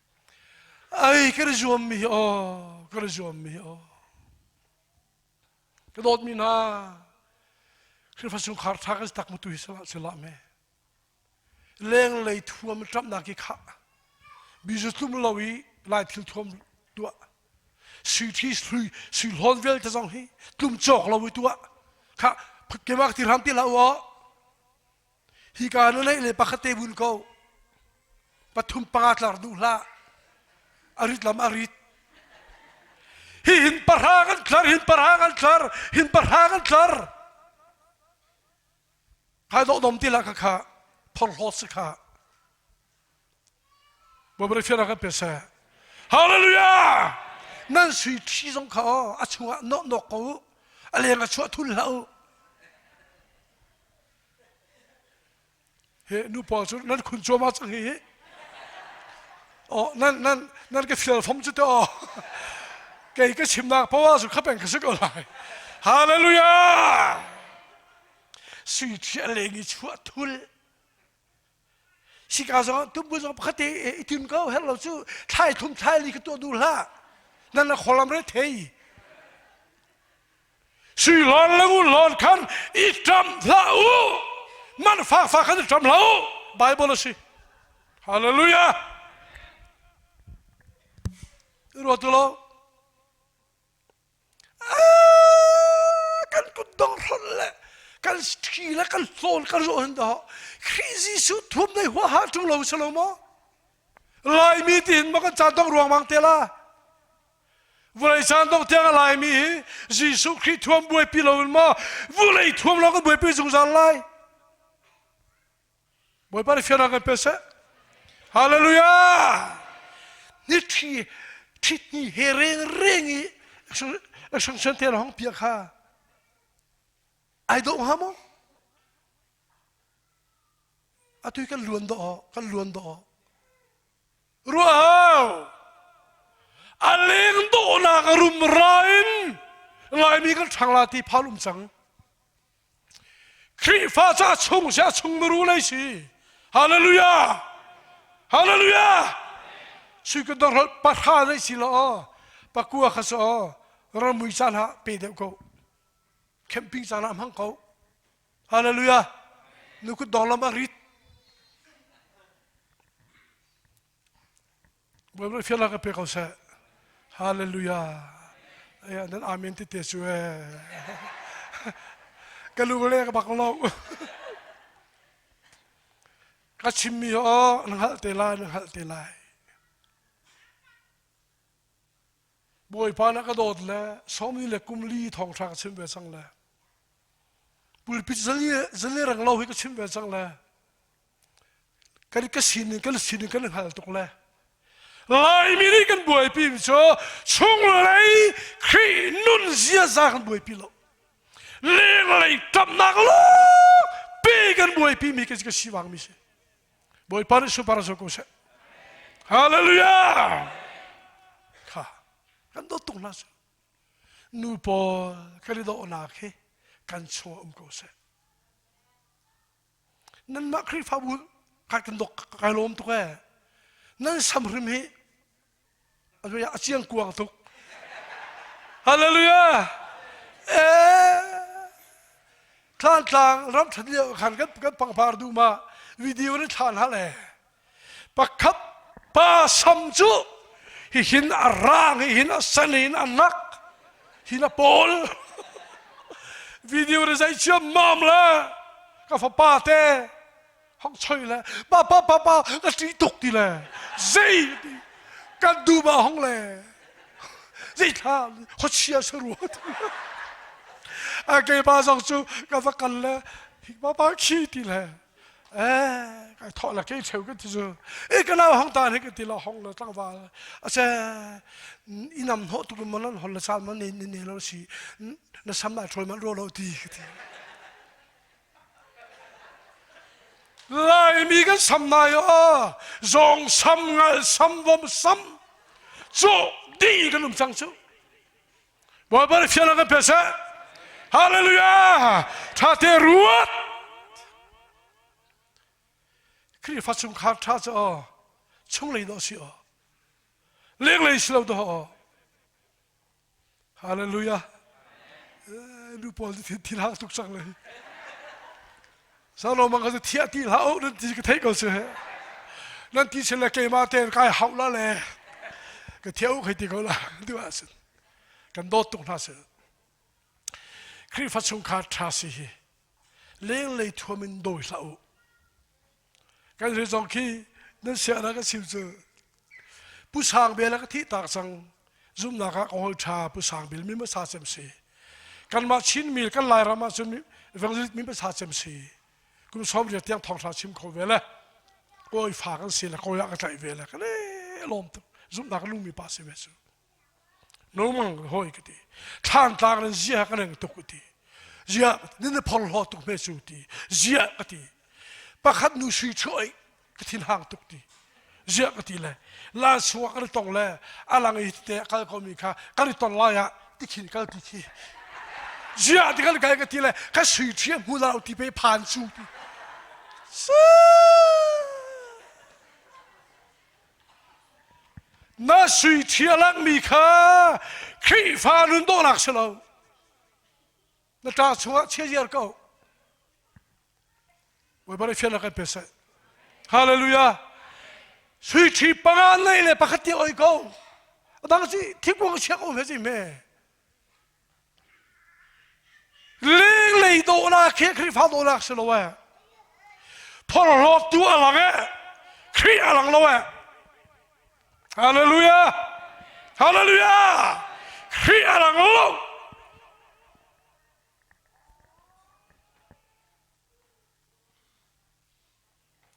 Ai kan i zuammi hi aw, kan i zuammi hi aw. Ka dawtmi hna, Khrihfa chungkhar ṭha kan si tak mutu hi silah me. Lenglei thuam ṭamnak hi khah. Bizu tlum lo i lai thil thuam tuah. Siti hlui si hlawn vial te zong hi tlum cawk lo i tuah. Kha kemak ti ram ti la u Hika nuleih le pakhat te vun ko. Pathum panga tlar duh hlah. A rit lam a rit. Hi hin para kan tlar, hin para kan tlar, hin para kan tlar. Ka dok dom ti la ka kha, phor hlo si kha. Bobra fiara ka pe se. Hallelujah! Nan sui thi zong kha o, a chungah nok nok ko u. A leng a chuah thul hla u. Hi nupa cu nan khun cuam ah cang hi. Oh, nan, nan, nan ka fial fom cu to. Kei ka chimnak power cu khapeng ka si ko lai. Hallelujah! Sui thiah leng i chuah thul. Sika zong tumbu zong pakhat te i tun ko her lo cu thlai thum thlai li ka tuah dur hlah nan la kholam re thei si lon le ngun lon khan i ṭam hlah u man fa fa khan i ṭam lo bible a si hallelujah ruatu lo kan kutdong hlonh le kan ṭhi le kan hlawl kan rawh an dah Khrih Jesuh thuam nei huaha ṭung lo si lo maw Laimi tiin ma kan caan dongh ruangmang te la vulei caan dongh tiang a laimi hi Jesuh Khrih thuam buaipi lo in maw vulei thuam lawng kan buaipi zungzal lai Bawipa nih fianrang kan pe seh. Hallelujah! Ni thi thi ni he reng reng i sang san te hong pia kha ai do ha mo atu kan luan do kan luan do rua hao a leng do nak rum ra in ngai mi kan thang la ti phalum sang Khrihfa ca chung si ah chungmiru lei si. Hallelujah! Hallelujah! Sui kun dang hrol pahra lei si law pakua kha so ramui caan ha pe deuh ko. Camping caan ah hmang ko. Hallelujah! Nu kun dong lam a rit. Biaknak ka pe ko seh. Hallelujah. Nan amen tete cu ee. Ka lu le ka bak lo. Ka chimmi oh na hngalh te lai, na hngalh te lai. Bawipa na ka dawt le somni le kumli thongthra ka chim ve cang le. Pulpit zali zali rang lo hi ka chim ve cang le. kan ka sin in kan sin in kan hngal tuk le lai mi nih kan buaipi mi cu chung lei khrih nun ziaza kan buaipi lo leng lei tamnak lo pe kan buaipi mi ka ka si wang mi si bawipa nih super zo ko se hallelujah kha kan do tung na su nu paul kan i do nak hi kan chaw um ko se nanmah khrihfabu kai kan dok kai lawm tuk ee nan sam hrim hi a ciang kuang tuk hallelujah eh thlan tlang ram that lio khan kan kan pangpar du ma video na thlan hal ee pakhat pa sam cu hihin a rang hihin a sen hihin a nak hin a pawl video ri zei ciam mam le ka fapa te hong choi le pa pa pa pa ka ṭih tuk ti le zei ti kan duba hong le zei thla khochia se rua ti a ke pa zong cu ka va kal le pa pa khi ti le Eh, kai thawh la ke cheu kan ti cu. E ka nau hang ta ne ka ti la hong la tlangwal. Ase inam no tu mun lan hol la sal man ne ne lo si. Na sam ma troi man ro lo ti ka ti. Lai mi kan sam na yo zong sam ngal sam bom sam. Cho ding kan um chang chu. Bawi bal fial kan pe seh. Hallelujah! Tha te ruat. Khrihfa chung khar tha cu aw chunglei dawh si aw lenglei si lo dawh aw Hallelujah nu pawl thil hak tuk cang le salom bang ka cu thiah ti hlah uh nan ti ka thei ko si he nan ti sin le keima ten kai hau la le ka thia u khei ti ko la tu a sin kan dawt tuk hna sin Khrihfa chungkhar ṭha si hi lenglei thuam in dawi hlah u kan zong khi nan siahnak kan sim cu Pu Sang Bel a ka thihtak cang. Zumnak ah ka hol ṭha. Pu Sang Bel mi hmasa cem si. Kanmah Chin mil kan Lairam ah cun Vengzut mi hmasa cem si. Kum sawm riat tiang thawngṭha chim kho ve le. Kawi fa kan si le kawi ah ka tlaih ve le. Ka le lawm tuk. Zumnak lungmi pa si ve cu. normal hoi ka ti thlan tlang in zia ka reng tuk ti zia nin phor hlo tuk me su ti zia ka ti pakhat nu sui choi ka thin hang tuk ti zia ka ti le la suwa ka tong le alang i te kal ko mi kha ka ri ton lai ah ti khin kal ti thi zia ti kal kai ka ti le ka sui thia hu lau ti pe phan su ti Na sui thia lakmi kha Khrihfa nun dawhnak si lo. Na ṭa chungah chiaziar ko. Bawibar i fian kan pe seh. Hallelujah. Sui thi panga nei le pakhat ti oi ko. Adang si thikung siak um he si me. Lenglei dawhnak khi Khrihfa dawhnak si lo ee. Phorhlawt tu a lang ee. Khrih a lang lo ee. Hallelujah! Hallelujah! Khrih a lang lo.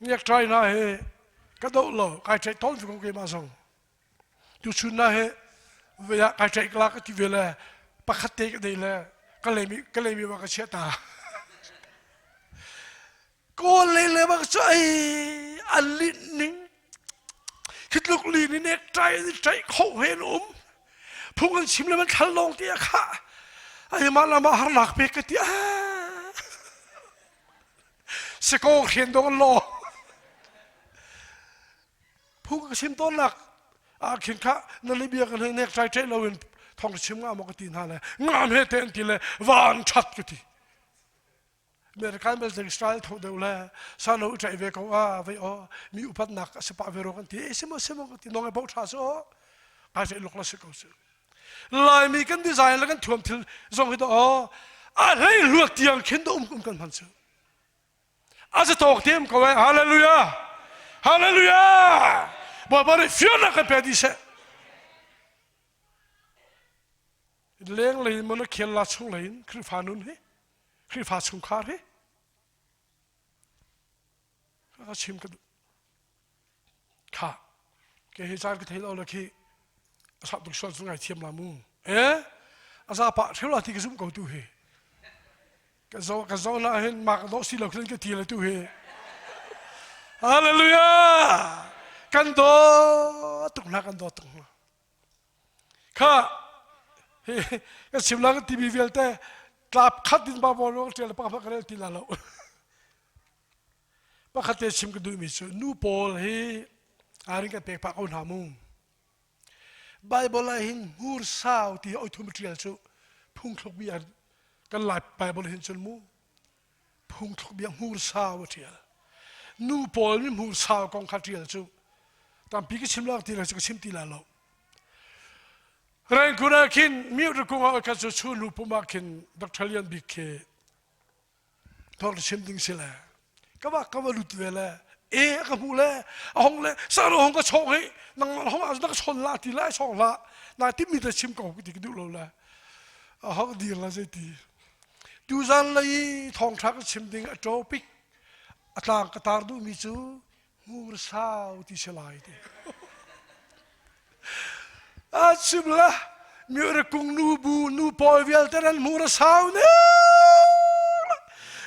Ngiakṭai hna hi ka doh lo kai ṭheih tawn ko keimah zong. Tuchun hna hi vei ah kai ṭheih kala ka ti ve le pakhat te ka dei le ka leimi ka leimi ma ka chiah ta. Kawl le le ma cu ai an li ning khitluk li ni nek ṭai ni ṭai kho he na um phung an chim le man thal lawng ti kha ai mah la ma har nak pe ka ti ah Si ko hrian dong law phu ka sim tawn nak ah khin kha na li bia ka nek trai ṭe loin thong sim nga maw ka ti hna le ngam he te an ti le van chat ka ti American bel zeng Israel tho deu le sa lo ṭai ve ko a vei o mi upat nak a sepa ve ro kan ti e simo simo ka ti nong e bo tha so kai se lok la si ko si Laimi kan design le kan thuam thil zong hi daw a hlei luat tiang khin da um um kan hman cu a za tawk tem ko eh hallelujah hallelujah baba ri fian na kan pe di se leng lei mon khial la chung lein khrifa nun hi khrifa chung khar hi a chim ka kha ke he caan ka thei lo la khi a sak tuk sual cu ngai thiam la mu eh a za pa theu la ti ka zum ko tu he ka zo ka zo na hin mak do si lo khin ka ti la tu he hallelujah kan do tuk na kan do tuk kha hi ka sim la ka tv vialte tlap khat din ba bol lo tel pa pa ka ti la lo Pakhat te chim ka duhmi cu nu pawl hi arin kan pek pah ko hna mu. Bible ah hin hmursau ti oithum ṭial cu phungthluk bia kan lai Bible hin cun mu phungthluk bia hmursau a ṭial. Nu pawl mi hmursau kong kha ṭial cu tampi ka chim lak ti lo cu ka chim ti la lo. Rengkun ah khin miut rakung ah khat cu chu nu pum ah khin Dr. Lian Bik khi thorhlsim ding si le ka va ka va lut ve le e ka hmu le a hong le sar hong ka chong hi nang hong as na son la ti lai song la na ti mi ta sim ko ti ka du lo le a hong dir la sei ti tu zan lei thong tha ka sim ding a topic a tlang ka tar du mi cu Ngur sau ti si lai ti. A chim la mi ra kung nu bu nu pawi vialte ran mu ra sau ne.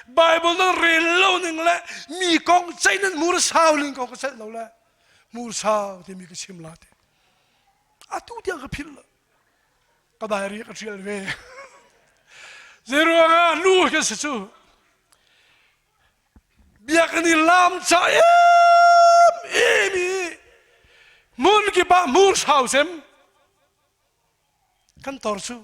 Bible nan rel lo ning le mi kong chai nan mu ra sau ning kong ka set lo le mu sau ti mi ka chim la ti. Atu tiang ka phil ka diary ka tial ve. Zeruang ah nu kan se cu Biakinn i lamca emem i hmun kip ah hmur hrau sem kan tor cu.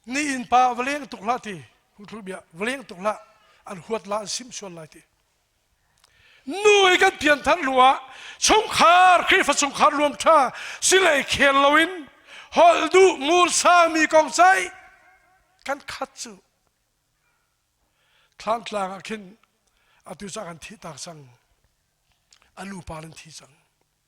Ni innpa va leng tuk hlah ti, huthul bia, va leng tuk hlah, an huat la an sim sual lai ti. nu i kan pianthar hnu ah chungkhar Khrihfa chungkhar luam ṭha singlei khel loin holh duh ngul sami kong sai kan khat cu thlantlang ah khin atu cah kan thih tak cang a lu par in thi cang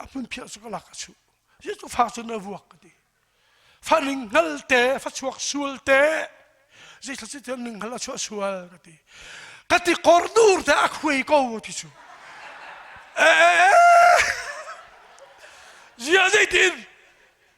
a hmun phiar cu ka lak a chuh hi cu fak cun a vuak ka ti fa ning hngal te fa chuak sual te zeithla si tiang ning hngal a chuah sual ka ti ka ti kor dur te a khuai ko ti cu e ziah zeitin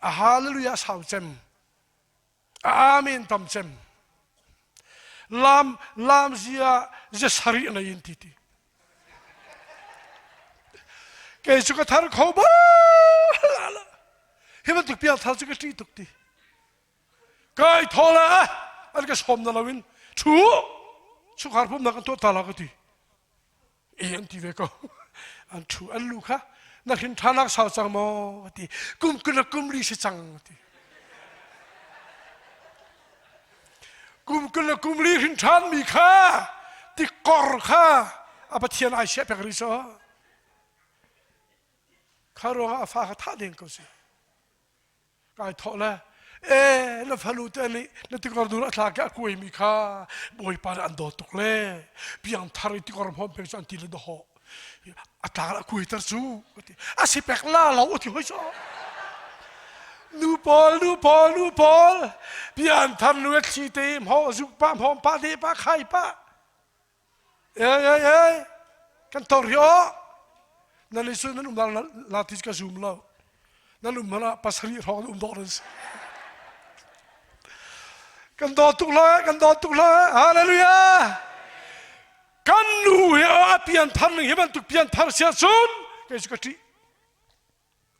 Hallelujah sau cem. Amen tam cem. Lam lam zia ze sari na yin ti ti. Kei cu ka thar kho ba hi ban tuk pial thar cu ka ṭi tuk ti. Kai thola an ka som na loin thu chukhar pum nak an tuah ta la ka ti. i an ti ve ko an thu an lu kha na hlin ṭhanak sau cang maw a ti kum kuna kum li si cang a ti kum kuna kum li hrin ṭhan mi kha tikkor kha a pathian ai siah pek rih so kha ruangah a fa kha thah ding ko si kai thawh le e na falu te nih na tikor dur a thla ke a kuai mi kha bawipa nih an dawt tuk le piang thar i tikor hom pe cu an ti le dawho a tlang a kuai ter cu a si pek la lo a ti hoi so nu paul nu paul nu paul pian tham nu a thli te mho zu pa mho pa de pa khai pa Ei, ei, ei, kan tor hi aw. Nan i sun nan um lang latis ka zum lo. Nan um hmanh ah pasarih hrawng an um dawh nan si. Kan daw tuk lo eh, kan daw tuk lo eh. Hallelujah! Kan nu hi a pian thar ning hi bantuk pian thar sia sun, kei su ka ṭi.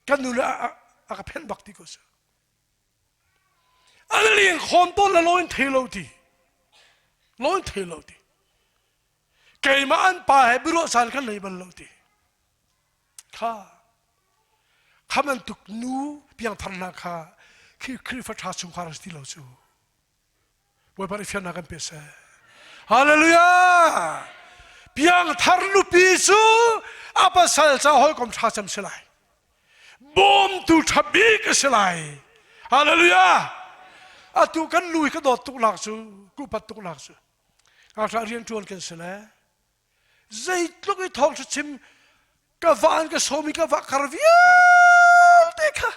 Kan nu le a ka phen bak ti ko si. An lengkhawm tawn le lo in thei lo ti. Lo in thei lo ti. Keimah an pa he biaruahsan kan nei bal lo ti. Kha khaman tuk nu piangthar hna kha khi Khrihfa ṭha chungkhar a si ti lo cu. Bawipa nih fiannak kan pek seh. Hallelujah! Piangthar nupi cu a pasal ca hawikom ṭha cem si lai. Bawmtu ṭha bik a si lai. Hallelujah! Atu kan lu hi ka dawt tuknak cu, kupat tuknak cu. Ngakṭah rian ṭuan kan si le Zeitluk i thawngthachim ka van ka som i ka va khar vialte kha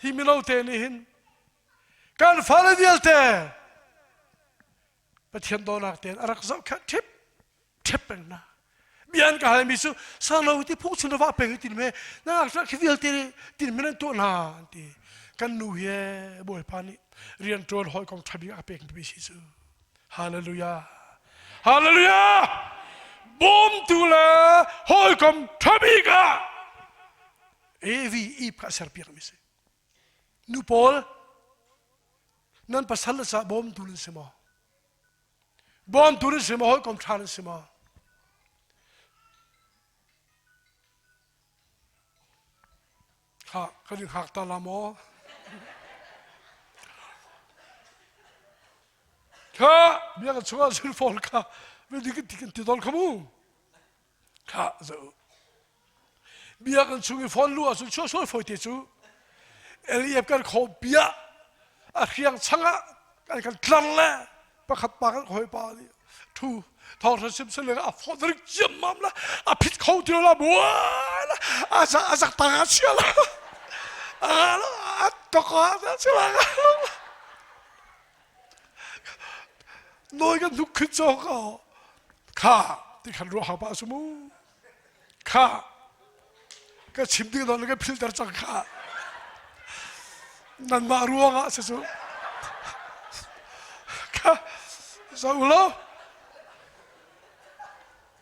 hi mino te nih hin kan fale vialte Pathian donak tein a rak zoh kha ṭhip ṭhep peng na bian ka halmi cu sang lo ti phu sin ra peng tin me na ra khi vialte tin men an tuah na an ti kan nu he bawipa nih rian ṭuan hawi kong ṭha bik a pek mi si cu Hallelujah! Hallelujah! Bawmtu le hawikom ṭhami ka Evi i kha serpiak mi si. Nu pawl nan pasal sa bawmtu nan si maw? Bawmtu nan si maw? Hawikom ṭha nan si maw? Thlah, kan in hak ta la maw? Kha, bia ka chung ahcun fawl kha, vedi kan ti kan ti dol kha mu. Kha, zo. Bia kan chung i fawn lu ahcun suasui foi te cu, LEF kan kho bia, a hriang chang ah, an kan tlar le, pakhat pa kan khawi pa nih thu thawnghrang sim sin le a phone ring ciammam la a phit kho ti la mu la a za a zak tang a sia la a a to ko a si la noi kan luk khit cho ko kha ti khan ru ha pa su mu Khah, ka chim ding nawn ka philter cang khah. Nanmah ruangah si cu. Kha, za u law.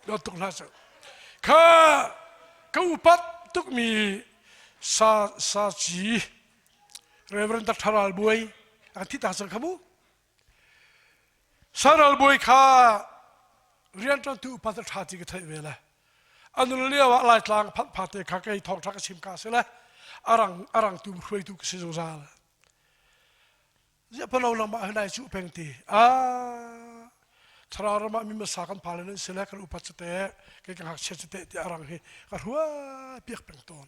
Lo tuk hlah cu. Kha, ka upat tukmi sa sa ci Reverend Dr. Ral Buai ang thi ta sang kha mu. Saral bawi kha rianṭantu upat a ṭha ti ka theih ve le a nun lio ah Laitlang phanh phate kha kei thawngṭha ka chim ka si le a rang a rangtu hruaitu ka si zungzal. Ziaphano nangmah hna i cu peng ti a thlarau ram ah mi masa kan pale nan si le kan upat cate ke ka ngakchia cate ti a rang hi ka hruai piak peng tawn.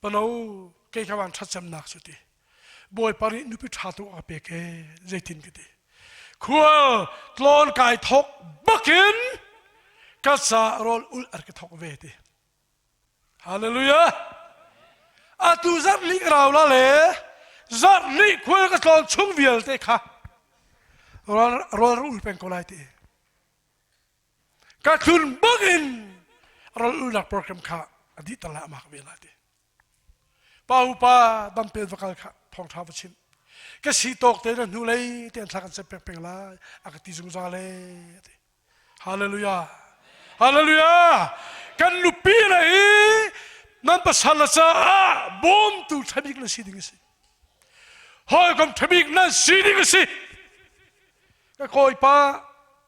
Palo kei ka van thatcemnak cu ti. Bawipa nih nupi tha tu a pek e zeitin ka ti. Khua tlawn kai thok bakin ka sa rol ul ar ka thok ve ti. Hallelujah. Atu zat nih rau la le zat nih khual ka tlawn chung vialte kha rol rol ul peng ko lai ti. ka tlun bang in ral ulnak program kha a dih tala amak ve la ti pa upa dampen va kal kha thawngtha va chim ka si tawk te na hnu lei te an kan cep pek peng lai a ka ti zungzal le ti hallelujah hallelujah kan nupi na i nan pasal la caah bawm tu thabik na si ding si hoi kom thabik nan si ding si ka kawipa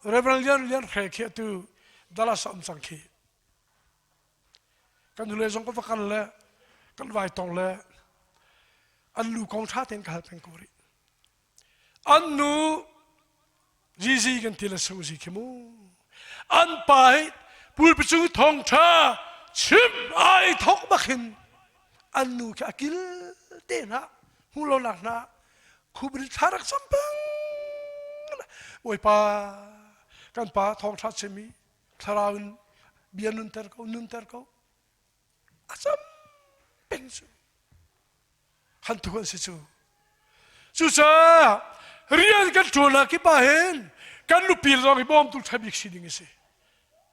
reverend lian lian hre khi atu dalas a um cang khi kan nule zong ka va kal le kan vai tong le an lu kong tha ten ka hal peng ko ri an nu zizi kan ti le sung zi khi mu an pa hi pulpicu thong tha chim ai thok bakin an nu khi akil te na hmu lo nak na khubri thla rak sam peng bawipa kan pa thawng ṭha semi thlarau in bia nunter ko nunter ko a sam peng cu han tuk an si cu cucaah rian kan ṭuan ah kipa hen kan nupi zong i bawmtu ṭha bik si ding a si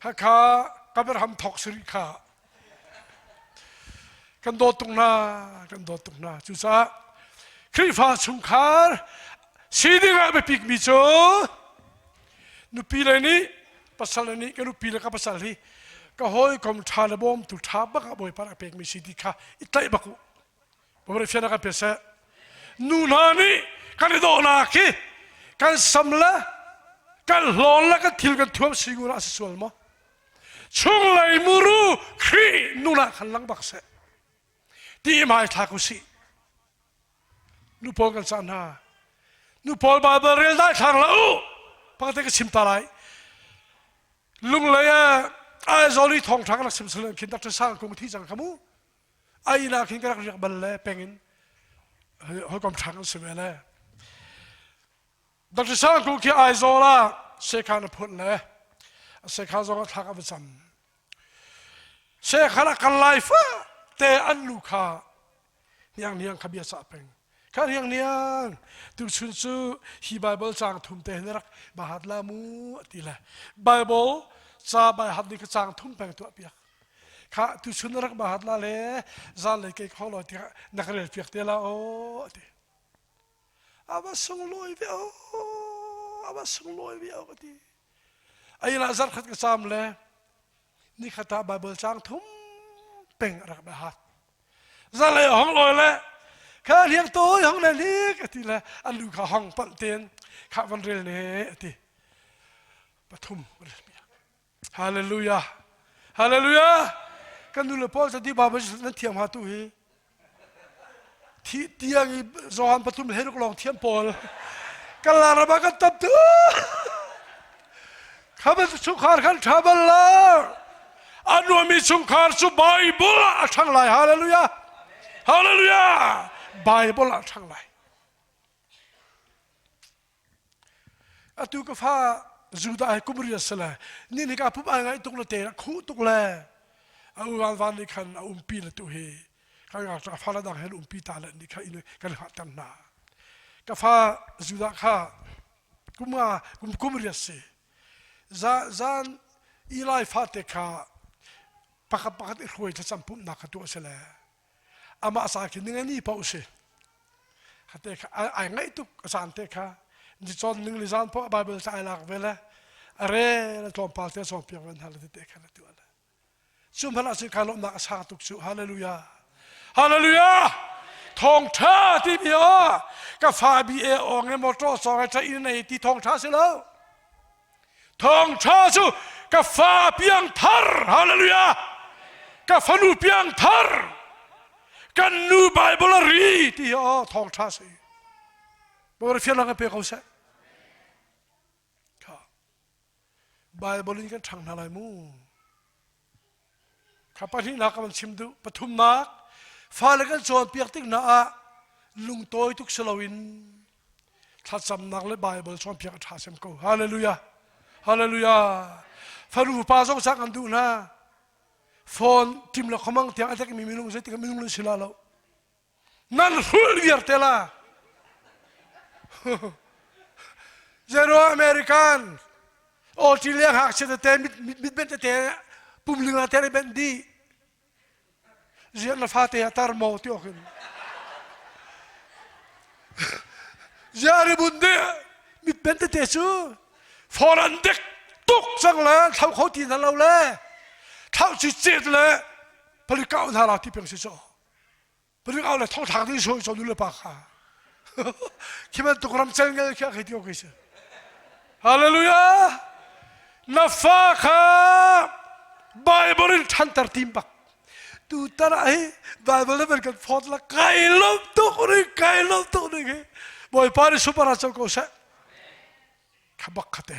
Khakha kan van ham thawk sarih kha kan dawt tuk hna kan dawt tuk hna cucaah Khrihfa chungkhar si dingah biapikmi cu nupi le nih pasal le nih ka nupi le ka pasal hi ka hawikom ṭha le bawmtu ṭha bak ah Bawipa rak pekmi si ti kha i tlaih bak u. Pabrik fian kan pet seh. Nu hna nih kan i dawhnak hi kan sam le kan hlawn le kan thil kan thuam singur ah a si sual maw? Chunglei muru Khrih nuna khan lang bak seh. Ti mai thak u si. Nu pawl kan sa hna. Nu pawl Bible rel dai thlang la u. Pakate ka chim ta lai. Lunglei ah Aizawl i thong thang rak sim selen khin Dr. Sang kung thi chang kamu. a ila khin ka rak riak bal le pengin hawikom ṭhang an si ve le Dr. Sang Ku khi Aizawl ah Sekhan a phun le a Sekhan zong a thlak a va cam Sekhan a kal lai fa te an lu kha hniang hniang kha bia sah peng ka riang niang tuchun cu hi bible cang thum te na rak bahat la mu ti le bible cha bai hat ni ka cang thum peng tu piak kha tuchun na rak bahat la le zan le ke kho lo ti na ka rel piak te la o ti aba sung loi ve o aba sung loi ve o ka ti ai la zar khat ka cham le ni khata bible cang thum peng rak bahat Zanlei hong lawi le kha hliam to hong le le ka ti le an lu kha hong palh ten kha van rel ne a ti pathum rel bia hallelujah hallelujah kan nu le paul sa di baba nan thiam ha tu hi thi tiang i Johan pathum le ruk long thiam paul kan la raba kan tap tu thabat chungkhar kan travel la a nuami chungkhar cu bible ah a ṭhang lai hallelujah hallelujah bible ah a ṭhang lai atu ka fa judah ai kum ria sala ni ni ka pup ai ngai tuk le te khu tuk le a uan van ni khan a um pi le tu hi kan ga ka fa la dang hel um pi ta le ni kha in kan ha tang na ka fa judah kha kum nga kum kum ri a si zan i lai fate kha pakhat pakhat i hruai thlacam pumhnak kha tuah a si le amah sa khin ninga ni pa u si hate kha ai ngaih tuk a san te kha ni chon ning li zan po bible sa ai lak ve le are la tlawm pa te song piang ven hal te kha la tu ala cu hmanh ah ka lawmhnak a sang tuk cu hallelujah hallelujah thawngtha timi ah ka fa bi e ong e motor song e train nei ti thawngtha si lo thawngtha cu ka fa piang thar hallelujah ka fanu piang thar kan nu bible ri ti oh thawngtha si bor phian lang pe ko seh Kha Baibal in kan ṭhang hna lai mu. Kha pahnihnak kan chim duh. Pathumnak, fale kan cawnpiak tik hna ah lungtawi tuk si loin thlacamnak le Baibal cawnpiak a ṭha sem ko. Hallelujah. Hallelujah. Faru pa zong sa kan duh hna. Phone tim le khomang tiang a tlekmi minung zeitik minung nan si la lo. nan hrul vialte la zero american o ti le hak se te mit mit ben te pum linga te le ben di zian na fa te atar mo ti okin ziare bun de mit ben te su foran dek tuk sang le thau kho ti na lo le thau chi chet le pali kau na la ti peng si so Parik au le thongthlak ni so so nu le pa kha. Khi bantuk ram chan ngai khi a khei tio kei si. Hallelujah. Na fa kha Bible in thantar tim bak. Tu tara hi Bible level kan phot la kai lom tuk ri kai lom tuk ri khi. Boy pa ni supara chal ko se. Khabak khate.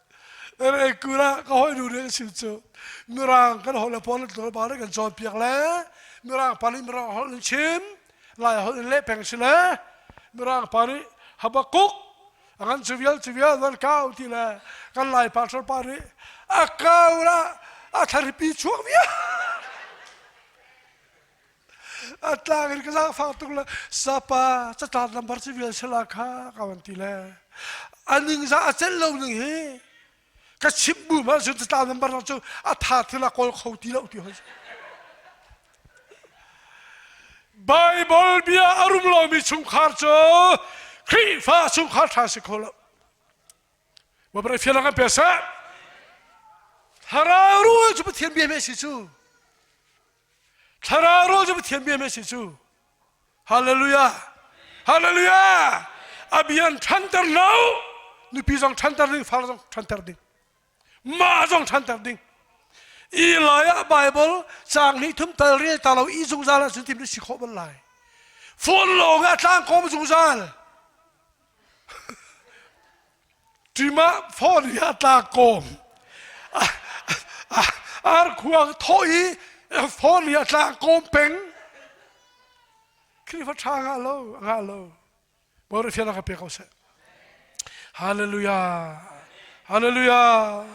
Ralei kul ah ka hawinu nih a chim cu Mirang kan holh le Portugal pa nih kan cawnpiak le Mirang pa nih Mirang holh in chim Lai holh in leh peng si le Mirang pa nih Habakuk a kan cu vial cu vial van kau ti le kan Lai pastor pa nih a kau la a thlaripi chuak vial Atlang in ka zaangfang tuk le sapa catlap lambar civil sala kha ka van ti le a ningza a celh lo ning hi ka chimh bu ma cun catlap lambar lo cu a tha thil a kawl kho ti lo ti hon Bible bia a rum lomi chungkhar cu Khrihfa chungkhar ṭha si kho lo. Babar fian ang pe sa. Thara rual cu Pathian bia me si cu. Thlarau rawl cu Pathian bia a si cu. Hallelujah! Hallelujah! A bia in ṭhanter lo. Nupi zong ṭhanter ding, far zong ṭhanter ding. Ma zong ṭhanter ding. I lai ah Bible caang hnih thum tal rel ta lo i zungzal ah zuntim na si khawh bal lai. Phone lawng ah tlang kawm zungzal. ṭim ah fawriha tla kawm arkhuang thawh i fawriha tla kawm peng Khrihfa ṭha ngah lo ngah lo Borafia na ka pe ko seh Hallelujah Hallelujah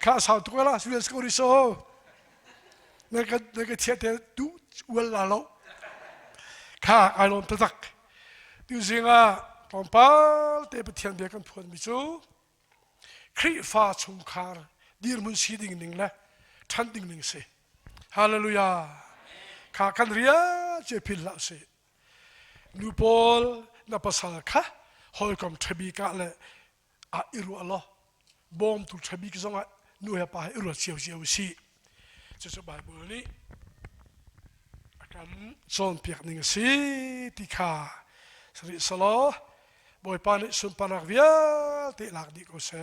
kha sau tuk la si ko ri so na ka na ka chia te tu ual la lo kha ai lom tatak Tu zingah tlawmpal te Pathian bia kan phuanmi cu Khrihfa chungkhar dirhmun si ding ning le ṭhan ding ning si. Hallelujah. Kha kan ria ce phil hlah si. Nu pawl na pasal kha hawikom ṭhabi ka le ah i ruah law bawmtu ṭhabik zongah nu he pa he i ruat cio u sih. Cucu Baibal nih a kan cawnpiak ning a si ti kha sari selaw Bawipa nih sunparnak vialte lak dih ko seh.